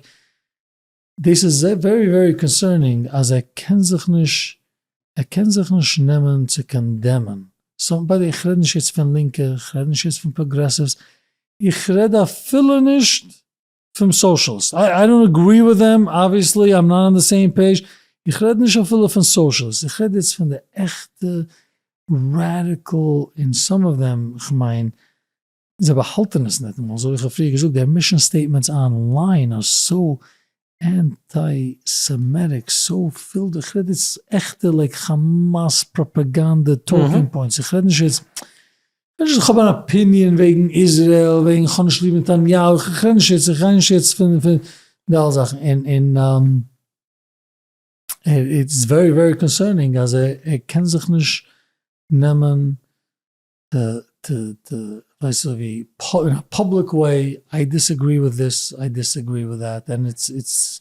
דאס איז ווערי ווערי קאנסערנינג אז ער קען זיך נישט, ער קען זיך נישט נעמען צו קאנדעמען סאמבאדי, איך רעד נישט יעצט פון לינקע, איך רעד נישט יעצט פון פראגרעסיווס, איך רעד אפילו נישט פון סאושעלס, איי דאנט אגרי וויט דעם, אבוויעסלי איים נאט אן די סעים פעיזש, איך רעד נישט אפילו פון סאושעלס, איך רעד יעצט פון די עכטע ראדיקעל, און סאם אוו דעם, כ'מיין זיי באהאלטען עס ניטאמאל, אזוי ווי איך האב פריער געזאגט, דער מישען סטעיטמענטס אן ליין אר סאו ענטי סעמעטיק, סאו פיל, איך רעד יעצט עכטע לייק כאמאס פראפאגאנדע טאלקינג פוינטס, איך רעד נישט יעצט נישט אז כ'האב אן אפיניען וועגן איזרעיל, וועגן כ'האב נישט ליב נתניהו, כ'רעד נישט יעצט, כ'רעד נישט יעצט פון די אלע זאכן, און איטס ווערי ווערי קאנסערנינג אז ער קען זיך נישט נעמען ווייסט זיך ווי, אין א פובליק וועי, איי דיסעגרי וויט דיס, איי דיסעגרי וויט דעט, און איטס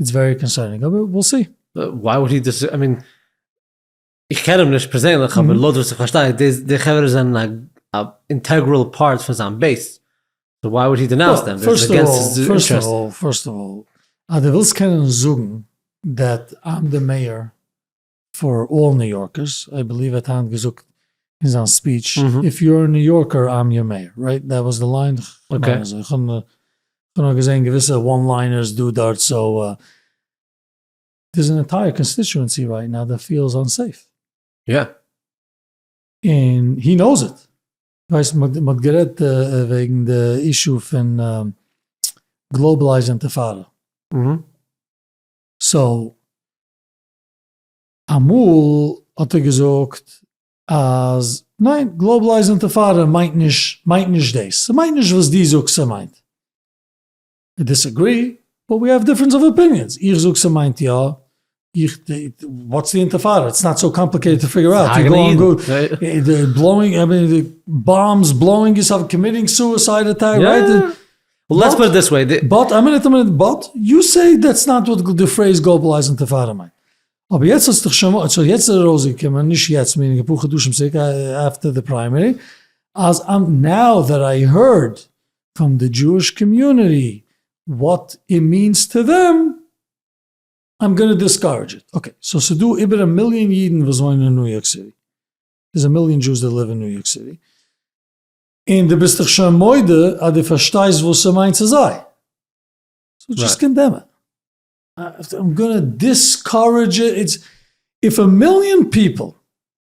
ווערי קאנסערנינג, אבער וויל סי. וויי וואלד הי דיסעגרי, איי מין, איך קען אים נישט פערזענליך אבער לויט וואס איך פארשטיי די חברה זענען א אינטעגרעל פארט פון זיין בעיס סאו וויי וואלד הי דענאוס דעם דאס איז אגענסט היז אינטערעסט. פירסט אוו אלל אז דו ווילסט קענען זאגן דעט איים די מעיאר פאר אלל ניו יארקערס איי בעליוו ער האט היינט געזאגט אין זיין ספיעטש איף יו אר א ניו יארקער איים יור מעיאר רייט דעט וואס די ליין כ'מיין אזוי כ'האב נאר געזעהן געוויסע וואן ליינערס דא דארט סאו דאס איז אן ענטייער קאנסטיטשוענסי וויי נאו דער פיעל איז אנסעיף. יא. און הי נאוס איט. ווייסט מען האט גערעדט וועגן די אישו פון גלאובעלייזד אינטיפאדא. סאו אמאל האט ער געזאגט אז ניין גלאובעלייזד אינטיפאדא מיינט נישט מיינט נישט דאס. ס'מיינט נישט וואס דו זאגסט ס'מיינט. אי דיסעגרי, באט ווי העוו דיפרענס אוו אפיניענס, איך זאג ס'מיינט יא, איך די, וואטס די אינטערפארע, איטס נאט סאו קאמפליקעיטעד טו פיגער אוט, יו גאון גוד, די בלאוינג, איי מין די באמבס בלאוינג יאר סעלף, קאמיטינג סוסייד אטעק, רייט? יא, לעטס פוט איט דיס וועי, באט, א מינוט א מינוט, באט, יו סעי דעטס נאט וואט די פרעיז גלאבאלייזד אינטערפארע מיינט, אבער יעצט האסטעך שוין, סאו יעצט איז ארויסגעקומען, נישט יעצט, מיענינג אפאר חדשים צוריק, עפטער די פריימערי, אז, נאו דעט איי הערד, פון די דזשואיש קאמיוניטי וואט איט מיענס טו דעם, איים גאנא דיסקארעדזש איט. אקעי, סאו ס'איז דא איבער א מיליאן אידן וואס וואוינען אין ניו יארק סיטי, ס'איז א מיליאן דזשואס דעט ליוו אין ניו יארק סיטי, און דו ביסט דאך שוין מודה אז דו פארשטייסט וואס ס'מיינט צו זיי, סאו דזשאסט קאנדעם איט. איים גאנא דיסקארעדזש איט. איף א מיליאן פיפל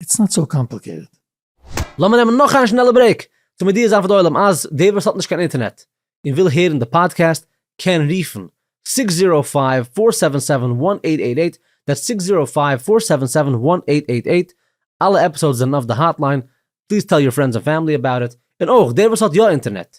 איטס נאט סאו קאמפליקעיטעד. לאמיר נעמען נאך איין שנעלע ברעיק צו מודיע זיין פאר די עולם אז דער וואס האט נישט קיין אינטערנעט און וויל הערן די פאדקעסט קען רופן זיכס זירא פייוו פאר סעווען סעווען וואן עיט עיט עיט, דעטס זיכס זירא פייוו פאר סעווען סעווען וואן עיט עיט עיט, אלע עפיסאודס זענען אויף די האטליין, פליז טעל יור פרענדס ענד פעמילי אבאוט איט, און אויך דער וואס האט יא אינטערנעט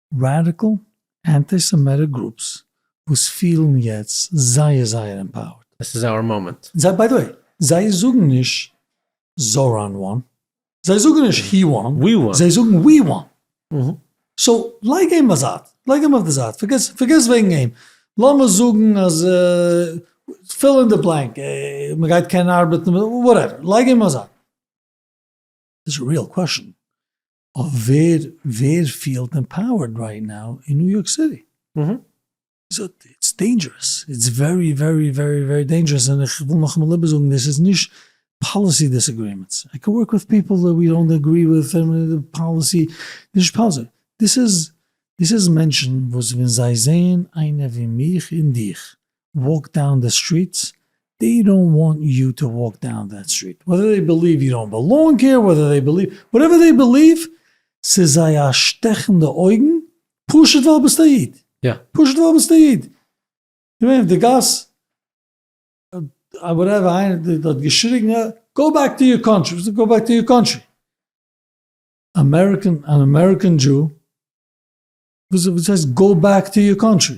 ראדיקעל אנטי סעמעטיק גרופס וואס פילן יעצט זייער זייער עמפאוערד. עס איז אווער מאמענט. זיי ביי די וועי זיי זאגן נישט זאראן וואן זיי זאגן נישט הי וואן זיי זאגן ווי וואן סאו לייג אים בייזייט לייג אים אויף די זייט פארגעס פארגעס וועגן אים לאמיר זאגן אז פיל אין די בלענק מ'גייט קענען ארבעטן וואטעווער לייג אים בייזייט. דיס איז א ריעל קוועשאן אויף ווער ווער פיעלט עמפאוערד רייט נאו אין ניו יארק סיטי. איטס דעינדזשערעס, איטס ווערי ווערי ווערי ווערי דעינדזשערעס, און איך וויל נאכאמאל איבערזאגן, דאס איז נישט פאליסי דיסעגרימענטס, איי קען ווארק וויט פיפל דעט ווי דאנט עגרי וויט און די פאליסי, נישט פאליסי, דאס איז דאס איז מענטשן וואס ווען זיי זעען איינער ווי מיך און דיך וואלק דאון די סטריטס, דעי דאנט וואנט יו טו וואלק דאון דעט סטריט, וועדער דעי בעליוו יו דאנט בעלאנג העיר, וועדער דעי בעליוו וואטעווער דעי בעליוו, ס'איז זיי א שטעך אין די אויגן, פשוט ווייל ביסט א איד, פשוט ווייל ביסט א איד, געווען אויף די גאס, וואטעווער, איינער האט געשריגן, גאו בעק טו יור קאנטרי, וואס איז גאו בעק טו יור קאנטרי, אמעריקען, אן אמעריקען דזשו, וואס הייסט גאו בעק טו יור קאנטרי,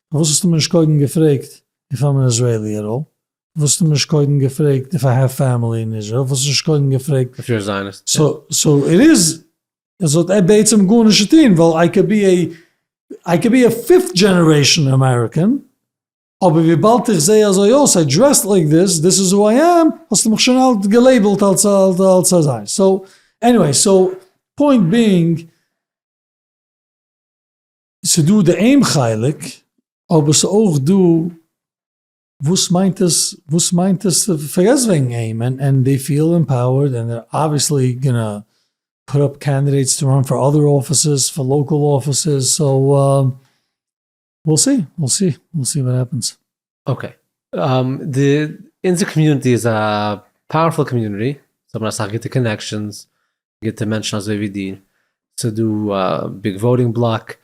וואס האסטו מיר נישט קודם געפרעגט די פארמער איזרעילי עט אלל? וואס האסטו מיר נישט קודם געפרעגט איף איי העוו פעמילי אין איזרעיל? וואס האסטו נישט קודם געפרעגט? אפשר נישט זיינערס. סאו איט איז עס האט בעצם גארנישט צו טון ווייל איי קען בי עי איי קען בי עי פיפט דזשענערעישאן אמעריקען אבער וויבאלד איך זעה אזוי אויס איי דרעסט לייק דיס דיס איז הו איי עם האסטו מיך שוין אלט געלעיבלט אלס אלס אזא סאו עניוועי סאו פוינט בינג ס'דא די אים חלק, אבער ס'אויך דא וואס מיינט עס וואס מיינט עס פארגעס וועגן אים ענד דעי פיעל עמפאוערד ענד דער אבוויעסלי גאנא פוט אפ קענדידעיטס טו ראן פאר אדער אפיסעס פאר לאקעל אפיסעס סאו וויל סי וויל סי וויל סי וואט העפענס. אקעי, די אונזער קאמיוניטי איז א פאוערפול קאמיוניטי, זיי האבן אסאך גוטע קאנעקשאנס, גוטע מענטשן אזוי ווי דיר, ס'איז דא א ביג וואוטינג בלאק,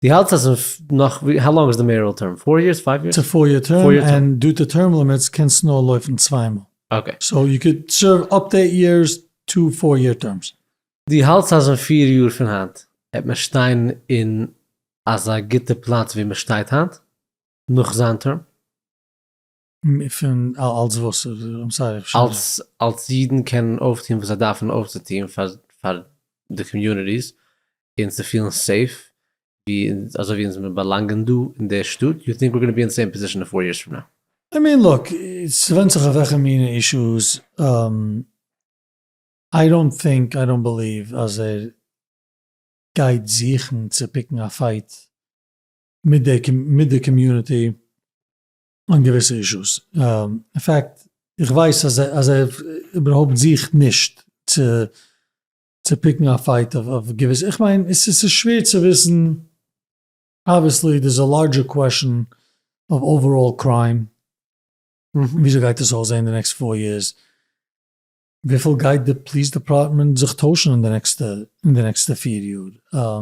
דו האלטסט אז אין נאך, האו לאנג איז די מעיארעל טערם? פאר יערס? פייוו יערס? ס'איז פאר יער טערם, און דו די טערם לימיטס קענסט נאר לויפן צוויי מאל, סאו יו קען סערוו אפ טו עיט יערס, טו פאר יער טערמס. דו האלטסט אז אין פיר יאר פון היינט וועט מען שטיין אין אזא גוטע פלאץ ווי מען שטייט היינט? נאך זיין טערם? פון אלס וואס? איים סארי איך האב שוין אלס אלס אידן קענען אויפטון וואס זיי דארפן אויפצוטון פאר פאר די קאמיוניטיס און צו פילן סעיף ווי אזוי ווי אונז מיר באלאנגען דא אין די שטאט יו טינק ווער גאנא בי און סעים פאזישן אין פאר יערס פראם נאו? איי מין לוק ס'ווענדט זיך אויף וועלכע מינע אישוס, איי דאנט טינק איי דאנט בעליוו אז ער גייט זוכן צו פיקן א פייט מיט די מיט די קאמיוניטי און געוויסע אישוס, אין פעקט איך ווייס אז אז ער איבערהויפט זוכט נישט צו צו פיקן א פייט אויף געוויסע, איך מיין עס איז שווער צו וויסן, אבוויעסלי דער איז א לארדזשער קוועשאן אויף אוועראל קריים, וויאזוי גייט עס אויסזען די נעקסט פאר יערס, וויפיל גייט די פליס דעפארטמענט זיך טוישן אין די נעקסטע אין די נעקסטע פיר יאר,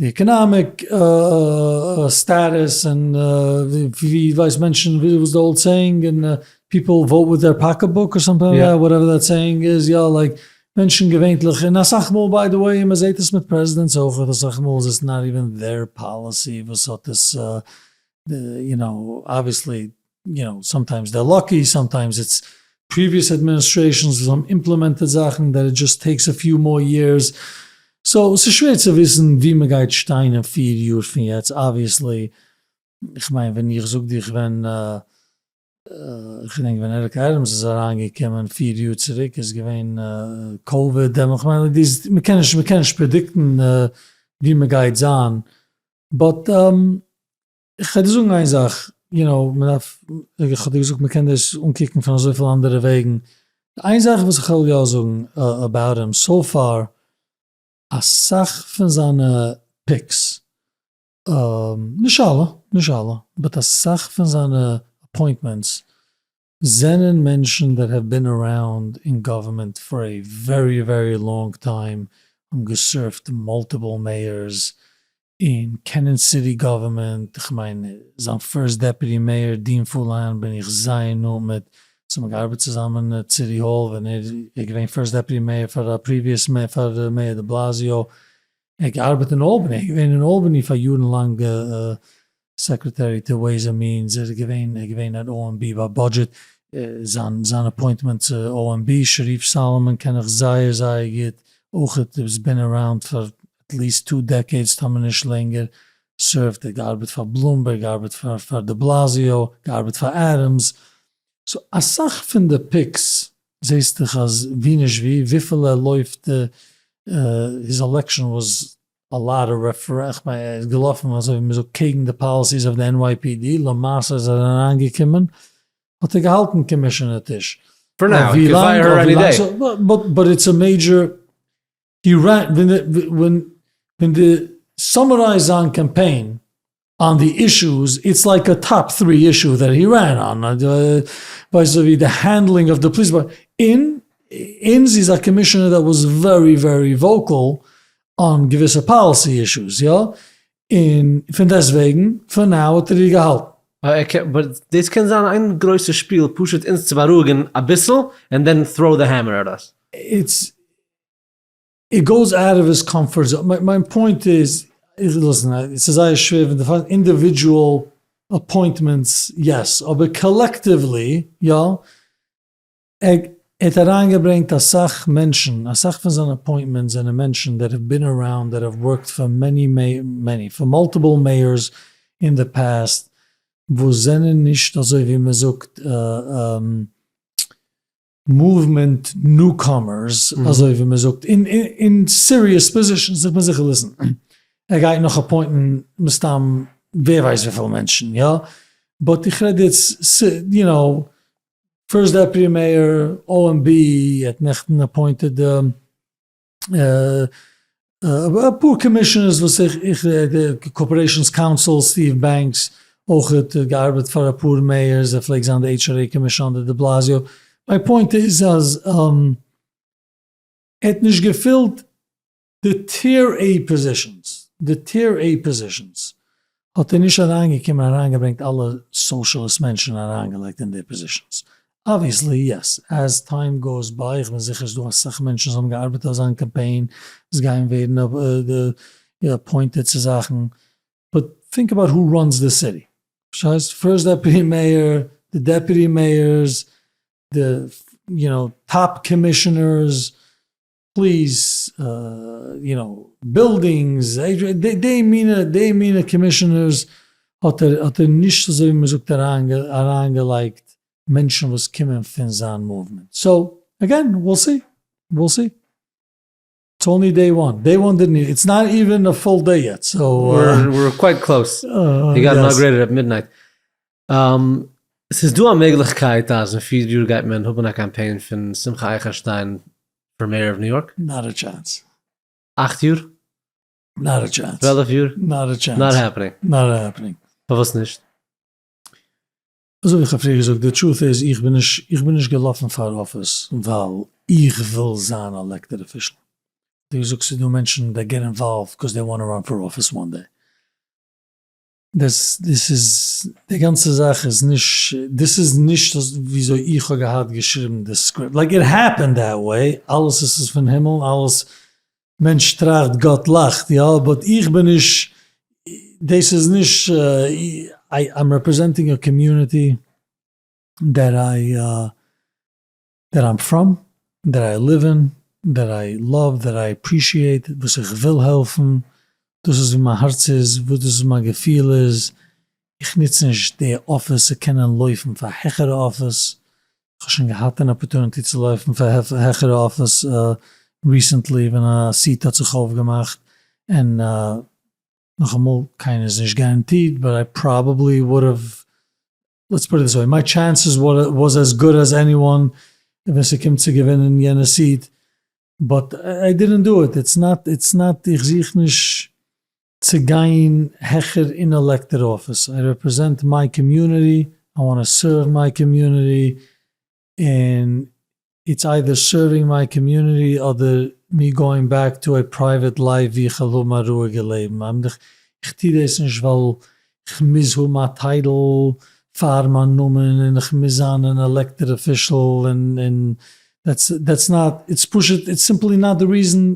די עקאנאמיק סטאטוס און ווי ווייס מענטשן וואס די האולט סעיאינג און פיפל וואוט וויט דעיר פאקעט בוק אר סאמטינג לייק דעט וואטעווער דעט סעיאינג איז יא לייק מענטשן געווענטליך און אסאך מאל ביי די וועי מען זעהט עס מיט פרעזידענטס אויך אסאך מאל איז עס נאט איווען דעיר פאליסי וואס האט עס יו נאו אבוויעסלי יו נאו, סאמטיימס דער לאקי, סאמטיימס איטס פריוויעס אדמיניסטרעישאנס וואס האבן אימפלעמענטעד זאכן דעט איט דזשאסט טעיקס א פיו מאר יערס. סאו ס'איז שווער צו וויסן וואו מ'גייט שטיין אין פיר יאר פון יעצט אבוויעסלי. איך מיין ווען איך זאג דיך ווען איך געדענק ווען עריק עדעמס איז אריינגעקומען פיר יאר צוריק איז געווען קאוויד דעמאלט. איך מיין דאס מ'קען נישט מ'קען נישט פרעדיקטן וואו מ'גייט זיין באט. כ'וועל דיר זאגן איין זאך, יו נאו, מ'דארף, כ'האב דיר געזאגט מ'קען דאס אנקוקן פון אזויפיל אנדערע וועגן, איין זאך וואס כ'וועל יא זאגן אבאוט אים, סאו פאר, אסאך פון זיינע פיקס, נישט אלע, נישט אלע, באט אסאך פון זיינע אפוינטמענטס, זענען מענטשן דעט העוו בין אראונד אין גאווערמענט פאר עי ווערי ווערי לאנג טיים, האבן געסערווט מאלטיפעל מעיארס, און קענען סיטי גאווערמענט, כ'מיין זיין פירסט דעפיוטי מעיאר דין פאלאן בין איך זייער נאנט מיט, ס'האבן מיר געארבעט צוזאמען עט סיטי האל ווען ער איז געווען פירסט דעפיוטי מעיאר פאר א פריוויעס מעיאר פאר מעיאר דעבלאזיאו, ער האט געארבעט אין אלבעני, ער איז געווען אין אלבעני פאר יארן לאנג. סעקרעטערי טו וועיס ענד מיענס, ער איז געווען, ער איז געווען אן OMB ביי בודזשעט. זיין זיין אפוינטמענט צו OMB, שריף סאלאמאן קען איך זייער זייער גוט אויכעט, ער איז בין אראונד פאר עטליעסט טו דעקעידס טאמער נישט לענגער, סערווט, ער האט געארבעט פאר בלומבערג, געארבעט פאר פאר דעבלאזיאו, געארבעט פאר עדעמס, סאו אסאך פון די פיקס זעהסטעך אז ווי נישט ווי, וויפיל ער לויפט, היז עלעקשאן וואס א לאט אוו רעפרעס ביי איז געלאפן אזוי ווי מ'זאגט קעגן די פאליסיס אוו די NYPD, למעשה איז ער אריינגעקומען האט ער געהאלטן קאמישענער טיש פאר נאו ווי לאנג אויף ווי לאנג סאו באט איטס א מעידזשער ווען די סאמערייז זיין קאמפיין אן די אישוס, איטס לייק א טאפ טרי אישו דעט הי רען אן, ווייסט אזויווי די הענדלינג אוו די פאליס אין אין זי איז א קאמישענער דעט וואס ווערי ווערי וואוקעל אן געוויסע פאליסי אישוס יא אין פון דעסט וועגן פאר נאו האט ער איר געהאלטן. באט דאס קען זיין איין גרויסע שפיל פשוט אונז צו בארואיגן אביסל ענד דען טראו די העמער עט אס. איט גאוס אוט אוו היס קאמפארט זאון, מיין פוינט איז, ליסן, עס איז זייער שווער ווען דו פארסט אינדיווידזשועל אפוינטמענטס יעס, אבער קאלעקטיוולי יא, ער האט אריינגעברענגט אסאך מענטשן, אסאך פון זיינע אפוינטמענטס זענען מענטשן דעט האב בין אראונד, דעט האב ווארקט פאר מעני מעני, פאר מאלטיפעל מעיארס אין די פאסט, וואס זענען נישט אזוי ווי מען זאגט מאוומענט ניוקאמערס אזוי ווי מען זאגט אין סיריעס פאזישאנס דארף מען זיכער וויסן ער גייט נאך אפוינטן מסתם ווער ווייסט וויפיל מענטשן יא באט איך רעד איטס יו נאו פירסט דעפוטי מעיאר OMB ער האט נעכטן אפוינטעד די. אפאר קאמישענערס וואס איך איך קארפארעישאנס קאונסיל סטיוו בענקס אויך האט געארבעט פאר אפאר מעיארס ער פלעגט זיין די עיטש אר עי קאמישאנדער דעבלאזיאו מיי פוינט איז אז ער האט נישט געפילט די טיער עי פאזישאנס די טיער עי פאזישאנס האט ער נישט אריינגעקומען אריינגעברענגט אלע סאושליסט מענטשן אריינגעלייגט אין די פאזישענס? אבוויעסלי יעס, עז טיים גאוס ביי, איך בין זיכער ס'דא אסאך מענטשן וואס האבן געארבעט אויף זיין קאמפיין וואס גייען ווערן אפוינטעד צו זאכן, באט טינק אבאוט הו ראנס די סיטי, פארשטייסט? פירסט דעפוטי מעיאר, די דעפוטי מעיארס, די יו נאו טאפ קאמישענערס, פליס יו נאו בילדינגס, די מינע די מינע קאמישענערס האט ער האט ער נישט אזוי ווי מען זאגט אריינגעלייגט מענטשן וואס קומען פון זיין מאוומענט, סאו אגעין וויל סי וויל סי, איטס אנלי דעי וואן, דעי וואן דידנט איטס נאט איווען א פול דעי יעט, סאו. עס איז דא א מעגליכקייט אז אין פיר יאר גייט מען האבן א קאמפיין פון שמחה אייכערשטיין פאר מעיאר אוו ניו יארק? נאט א טשענס. אכט יאר? נאט א טשענס. צוועלף יאר? נאט א טשענס. נאט העפענינג. נאט העפענינג. פארוואס נישט? אזויווי איך האב פריער געזאגט, די טרוט איז איך בין נישט איך בין נישט געלאפן פאר אפיס ווייל איך וויל זיין א עלעקטעד אפישעל. ווי דו זאגסט ס'איז דא מענטשן דעט געט אינוואלווד קאוז דעי וואנט טו ראן פאר אפיס וואן דעי. דאס איז, די גאנצע זאך איז נישט, דאס איז נישט וויאזוי איך האב געהאט געשריבן די סקריפט, לייק איט העפענד דעט וועי, אלעס איז איז פון הימל, אלעס, מענטש טראכט גאט לאכט, יא, באט איך בין נישט, דאס איז נישט, איי'ם רעפרעזענטינג א קאמיוניטי דעט איי דער איים פראם, דער איי ליוו אין, דער איי לאוו, דער איי עפרישיעיט, וואס איך וויל העלפן, דאס איז וואו מיין הארץ איז, וואס דאס איז מיין געפיל איז, איך נוץ נישט די אפיס צו קענען לויפן פאר העכערע אפיס, איך האב שוין געהאט אן אפערטוניטי צו לויפן פאר העכערע אפיס ריסענטלי ווען א סיעט האט זיך אויפגעמאכט, און נאכאמאל קיינער איז נישט גאראנטירט באט איי פראבעבלי וואלד האוו לעטס פוט איט דיס וועי, מיי טשענסעס וואס עז גוד עז עניוואן ווען ס'קומט צו געווינען יענע סיעט, באט איי דידענט דא איט, איטס נאט איטס נאט איך זוך נישט צו גיין העכער אין עלעקטעד אפיס, איי רעפרעזענט מיי קאמיוניטי, איי וואנט טו סערוו מיי קאמיוניטי, און איטס איידער סערווינג מיי קאמיוניטי אדער מי גאוינג בעק טו עי פרייוועט לייף ווי כ'על האבן א רואיגע לעבן. איימיען איך טוה דאס נישט ווייל כ'מוז האבן א טייטל פאר מיין נאמען און כ'מוז זיין אן עלעקטעד אפישעל און און דעטס דעטס נאט איטס פשוט איטס סימפלי נאט די ריזען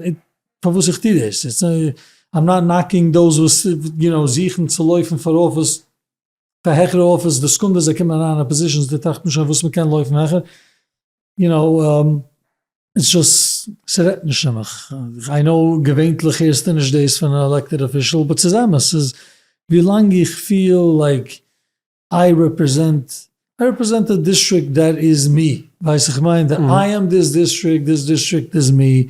פארוואס איך טוה דאס. איים נאט נאקינג דאוז וואס יו נאו זיכן צו לויפן פאר אפיס. פאר העכערע אפיס די סקונדע זיי קומען אריין אין פאזישאנס די טראכט נישט אויף וואס מען קען לויפן העכער יו נאו איטס זשאסט ס'רעדט נישט צו מיך איי נאו געווענטליך הערסטו נישט דאס פון א עלעקטעד אפישעל באט ס'איז אמת ס'איז ווי לאנג איך פיל לייק איי רעפרעזענט איי רעפרעזענט א דיסטריקט דעט איז מי ווייסט איך מיין די איי עם דיס דיסטריקט דיס דיסטריקט איז מי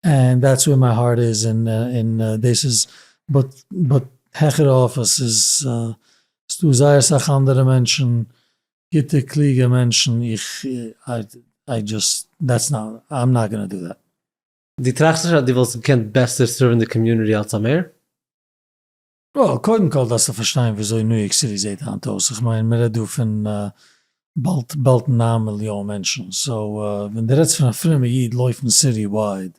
ענד דעטס ווער מיי הארט איז און דאס איז באט באט העכער אויף עס איז ס'דא זייער אסאך אנדערע מענטשן גוטע קלוגע מענטשן איך איי דזשאסט דעטס נאט איי עם נאט גאנא דא דעט. דו טראכסט נישט אז דו וואלסט געקענט בעסער סערווען די קאמיוניטי אלס א מעיאר? וויל קודם כל דארפסטו פארשטיין וויאזוי ניו יארק סיטי זעהט היינט אויס, איך מיין מען רעדט דא פון באלד באלד נײַן מיליאן מענטשן, סאו ווען די רעדסט פון א פרומע איד לויפן סיטי ווייד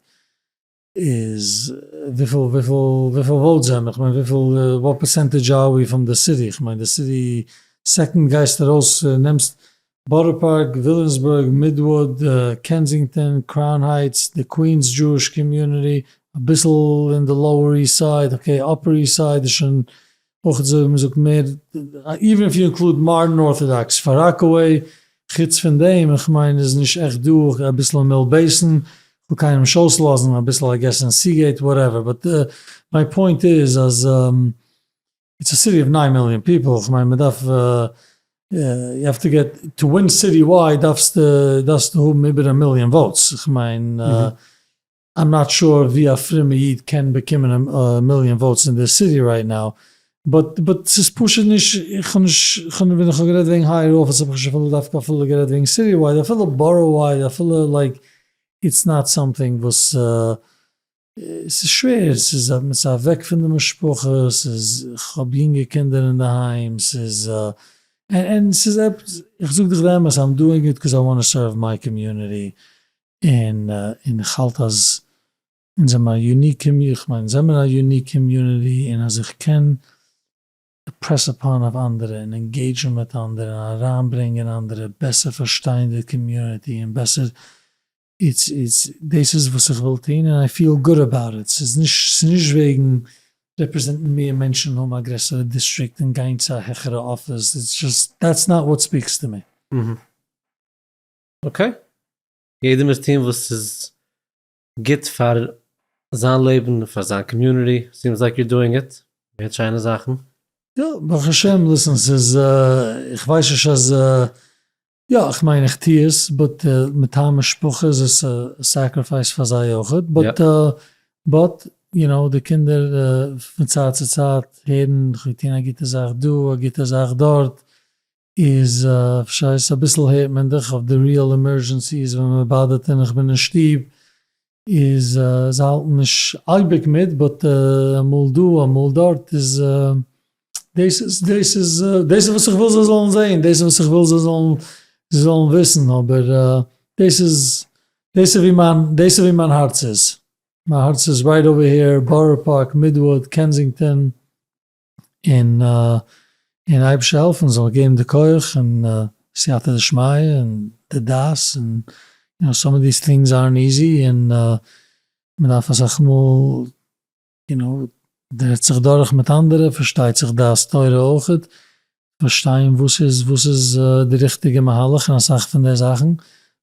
איז וויפיל וויפיל וויפיל וואוטס זענען איך מיין וויפיל וואט פערסענטעדזש אר וויא פרום די סיטי, איך מיין די סיטי סעקאנד גייסט ארויס נעמסט בארא פארק, וויליאמסבורג, מידוואוד, קענזינגטאן, קראון הייטס, די קווינס דזשואיש קאמיוניטי, אביסל אין די לאוער איסט סייד, אקעי אפער איסט סייד איז שוין אויך אזוי ווי מ'זאגט מער, איווען איף יו אינקלוד מאדערן ארטאדאקס פאר ראקעוועי, חוץ פון דעם איך מיין איז נישט עכט דא, אקעי אביסל אין מיל בעיסן, כ'וויל קיינעם נישט אויסלאזן, אביסל איי געס אין סיגעיט וואטעווער, באט מיי פוינט איז אז. איטס א סיטי אוו ניין מיליאן פיפעל, כ'מיין מ'דארף, יו העוו טו געט, טו ווין סיטי ווייד דארפסטו האבן איבער א מיליאן וואוטס, כ'מיין איים נאט שור ווי א פרומע איד קען באקומען א מיליאן וואוטס אין די סיטי רייט נאו, באט ס'איז פשוט נישט, כ'האב נישט, ווען איך האב גערעדט וועגן הייער אפיס האב איך נישט אפילו דווקא אפילו גערעדט וועגן סיטי ווייד, אפילו בארא ווייד, אפילו לייק איטס נאט סאמטינג וואס. ס'איז שווער, ס'איז א, מ'איז אוועק פון די משפחה, ס'איז, כ'האב יונגע קינדער אינדערהיים, ס'איז א, און ס'איז עפעס, איך זאג דיך די אמת, איים דואינג איט קאז איי וואנט טו סערוו מיי קאמיוניטי, און און איך האלט אז אונז זעמער א יוניק קאמיוניטי, איך מיין אונז זעמער א יוניק קאמיוניטי, און אז איך קען אימפרעס אפאן אויף אנדערע, און אינגעידזשן מיט אנדערע, און אריינברענגען אנדערע, בעסער פארשטיין די קאמיוניטי, און בעסער דאס איז וואס איך וויל טון און איי פיעל גוד אבאוט איט, ס'איז נישט וועגן רעפרעזענטן מער מענטשן, האבן א גרעסערע דיסטריקט און גיין צו א העכערע אפיס, איטס זשאסט דעטס נאט וואט ספיקס טו מי. אקעי, יעדער מוז טון וואס איז גוט פאר זיין לעבן און פאר זיין קאמיוניטי, סיעמס לייק יור דואינג איט, מ'הערט שיינע זאכן. יא ברוך השם, ליסן ס'איז איך ווייס נישט אז יא איך מיין איך טו עס באט מטעם משפחה איז עס א סעקריפייס פאר זיי אויכעט באט באט יו נאו די קינדער פון צייט צו צייט הערן כ'האב געטון א גוטע זאך דא א גוטע זאך דארט איז פשעי ס אביסל הערט מען דיך אויף די ריעל עמערזשענסיס ווען מ'באדערט און איך בין אין שטוב איז זיי האלטן נישט אייביג מיט באט אמאל דא אמאל דארט איז דאס איז דאס איז דאס איז וואס איך וויל זיי זאלן זעהן דאס איז וואס איך וויל זיי זאלן זיי זאלן וויסן אבער דאס איז דאס איז ווי מיין דאס איז ווי מיין הארץ איז מיין הארץ איז רייט אווער העיר בארא פארק מידוואד קענזינגטאן. און און אייבערשטער העלפן זאל געבן די כח און סייעתא דשמיא און די דעת און יא סאם אוו דיס טינגס ארנט איזי און מען דארף אסאך מאל יו נאו רעדט זיך דורך מיט אנדערע פארשטייט זיך דעת תורה אויך פארשטיין וואס איז וואס איז די ריכטיגע מהלך און אסאך פון די זאכן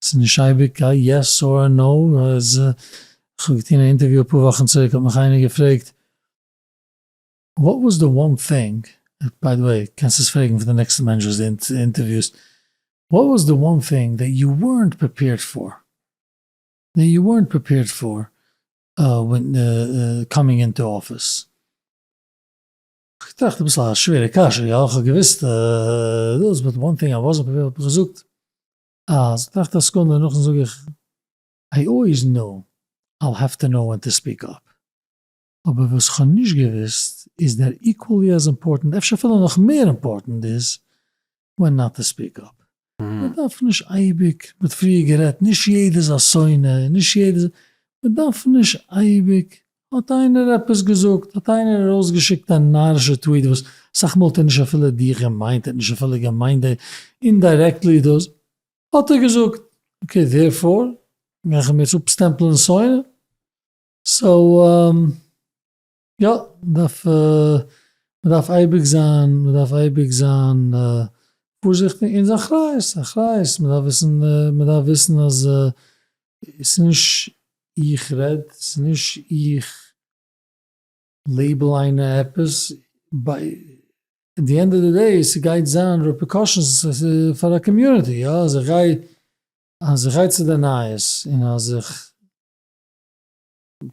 ס'איז נישט אייביג א יעס אר א נאו איז כ'האב געטון א אינטערוויו אפאר וואכן צוריק האט מיך איינער געפרעגט. וואט וואס די וואן טינג, ביי די וועי קענסט עס פרעגן פון די נעקסטע מענטש וואס די אינטערוויוסט, וואט וואס די וואן טינג דעט יו ווערנט פריפעירד פאר, דעט יו ווערנט פריפעירד פאר ווען קאמינג אינטו אפיס? כ'טראכט אביסל א שווערע קשיא יא, כ'האב געוויסט דאס באט וואן טינג איי וואזענט פריפעירד האב איך געזאגט אז, טראכט א סעקונדע נאכדעם זאג איך, איי אלוועיס נאו, אייל העוו טו נאו ווען טו ספיעק אפ. אבער וואס כ'האב נישט געוואוסט איז דער איקוואלי עז אימפארטענט, אפשר אפילו נאך מער אימפארטענט, איז ווען נאט טו ספיעק אפ. מ'דארף נישט אייביג, מ'האט פריער גערעדט, נישט יעדער איז א שונא און נישט יעדער איז, מ'דארף נישט אייביג, האט איינער עפעס געזאגט, האט איינער ארויסגעשיקט א נארישע טוויט וואס אסאך מאל האט ער נישט אפילו דיך געמיינט, ער האט נישט אפילו געמיינט דיך, אינדיירעקטלי דאס האט ער געזאגט, אקעי דערפאר גיי איך אים יעצט אפסטעמפלען שונא? סאו יא, מ'דארף מ'דארף אייביג זיין מ'דארף אייביג זיין פארזיכטיג, און ס'איז אחריות אחריות, מ'דארף וויסן מ'דארף וויסן אז ס'איז נישט איך רעד, ס'איז נישט איך לעיבל איינער עפעס, ביי די ענד אוו די דעי ס'גייט זיין רעפריקאשענס פאר א קאמיוניטי, יא, אז איך גיי אז איך גיי צו די נייעס און אז איך.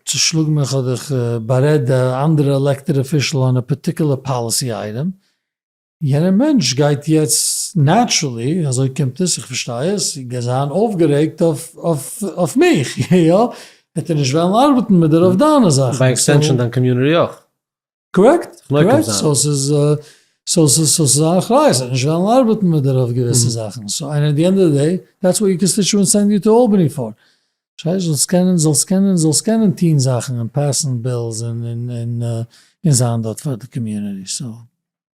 צושלאג מיך אדער איך בארעד א אנדערע עלעקטעד אפישעל אן א פארטיקולער פאליסי אייטעם, יענער מענטש גייט יעצט נעטשרעלי, אזוי קומט עס, איך פארשטיי עס, זיין אויפגערעגט אויף מיך, יא? העט ער נישט וועלן ארבעטן מיט דער אויף דיינע זאכן. ביי עקסטענשאן דיין קאמיוניטי אויך. קארעקט, קארעקט, סאו ס'איז סאו ס'איז א אחריות זיי נישט וועלן ארבעטן מיט דיר אויף געוויסע זאכן, סאו ענד די ענד אוו די דעי דעטס וואט יור קאנסטיטשוענטס סענד יו טו אלבעני פאר, פארשטייסט, זאלסט קענען זאלסט קענען זאלסט קענען טוהן זאכן און פעסן בילס און זיין דארט פאר די קאמיוניטי, סאו.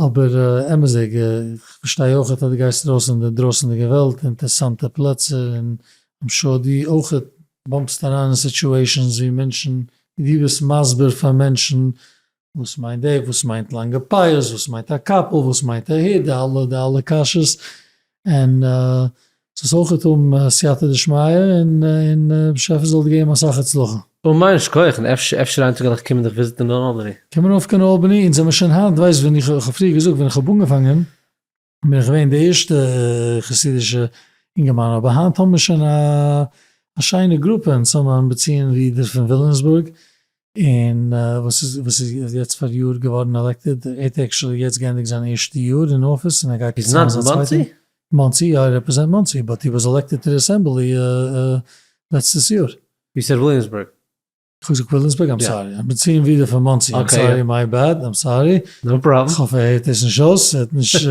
אבער אמת'דיג, איך פארשטיי אויכעט אז דו גייסט ארויס אין די דרויסענדיגע וועלט, אינטערסאנטע פלעצער, און איים שור דו אויכעט באמפסט אריין אין סיטועשאנס ווי מענטשן, ווי דו ביסט מסביר פאר מענטשן וואס מיינט דעי, וואס מיינט לאנגע פאות, וואס מיינט א קאפל, וואס מיינט א היט, די אלע די אלע קשיות, און ס'זאל אויכעט האבן סייעתא דשמיא און באשעפער זאל דיר געבן אסאך הצלחה. און מיין שכוח און אפשר אפשר איין טאג וועל איך קומען דיך וויזיטען און אלבעני. קום ארויף קיין אלבעני אונז זעמער שוין היינט ווייסט ווען איך האב פריער געזאגט ווען איך האב אנגעפאנגען בין איך געווען די ערשטע חסידישע אינגערמאן אבער היינט האבן מיר שוין א שיינע גרופע אונז האבן אנבעציאן ווי דער פון וויליאמסבורג און וואס איז וואס איז יעצט פאר יאר געווארן עלעקטעד, ער האט עקשעלי יעצט גענדיגט זיין ערשטע יאר אין אפיס און ער גייט יעצט אריין זיין צווייטע. איז נאט מאנסי? מאנסי יא ער רעפרעזענט מאנסי באט הי וואס עלעקטעד טו די אסעמבלי לעצטעס יאר. ווי סער וויליאמסבורג? כ'האב געזאגט וויליאמסבורג? איים סארי, איך בין צו אין ווידער פון מאנסי, איים סארי, מיי בעד, איים סארי, כ'האף ער הערט דאס נישט אויס, ער האט נישט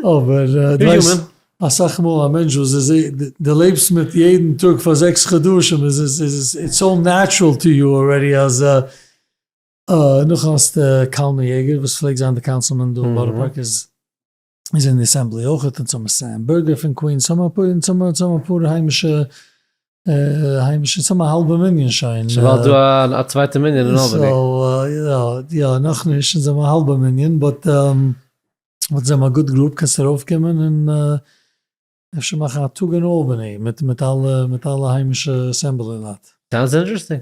אבער דו ווייסט. אסאך מאל א מענטש וואס איז די לעבסט מיט יעדן טאג פאר זעקס חדשים איז עס איטס סאו נעטשרעל טו יו ארעדי אז נאך האסטו קאלמען יעגער וואס פלעגט זיין די קאנסילמען דא אין בארא פארק איז אין די אסעמבלי אויכעט און סאמע סעם בערגער פון קווינס סאמע און סאמע אפאר היימישע היימישע סאמע האלבע מנין שוין ס'ווייל דא א צווייטע מנין אין אלבעני סאו יא יא נאכנישט אונז האבן א האלבע מנין באט. וואלט זיי מיר גוט געלאבט קענסט ארויף קומען און אפשר מאכן א טאג אין אלבעני מיט מיט אלע מיט אלע היימישע אסעמבלי לייט. סאונדס אינטערעסטינג.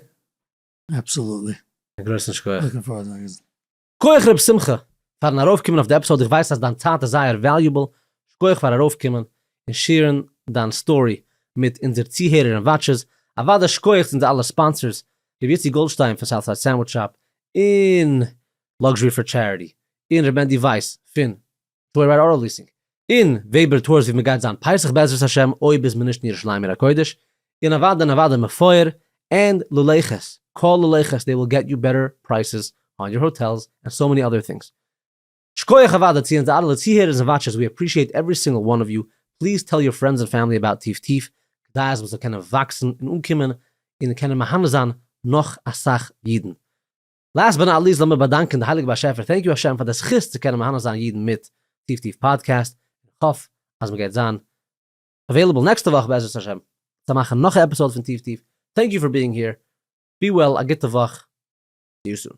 אבסאלוטלי. א גרויסן שכוח. לוקינג פארווארד צו אגענטן. כח רב שמחה פארן ארויף קומען אויף די עפיסאוד איך ווייס אז דיין צייט איז זייער וועליובעל שכוח פאר ארויף קומען און שעירן דיין סטארי מיט אונזער צוהערער און וואטשערס אוודאי שכוח צו אונזער אלע ספאנסערס ר' יוסי גאלדשטיין פון סאוטסייד סענדוויטש שאפ און לאקזשרי פאר טשעריטי, און ר' מענדי ווייס פון טויער רייד אוטא ליסינג, און וועבער טארס ווי מען גייט זיין פסח בעזרת השם אויב איז מען נישט אין ירושלים עיר הקודש, און אוואדע און אוואדע מפואר, ענד ללכת, כל ללכת דעי וויל געט יו בעטער פרייסעס אן יור האטעלס ענד סאו מעני אדער טינגס. שקויעך אוואדע צו אונזער אלע צוהערערס און וואטשערס ווי עפרישיעט עווערי סינגל וואן אוו יו, פליז טעל יור פרענדס און פעמילי אבאוט טיף טיף כדי אז מען זאל קענען וואקסן און אנקומען און קענען מהנה זיין נאך אסאך אידן. לאסט באט נאט ליסט לאמיר באדאנקען די הייליגע באשעפער, טענק יו השם פאר די זכות צו קענען מהנה זיין אידן מיט טיף טיף פאדקעסט, איך האף אז מען גייט זיין עוועילעבל נעקסטע וואך בעזרת השם צו מאכן נאך א עפיסאוד פון טיף טיף, טענק יו פאר ביאינג העיר, בי וועל, א גוטע וואך, סי יו סון.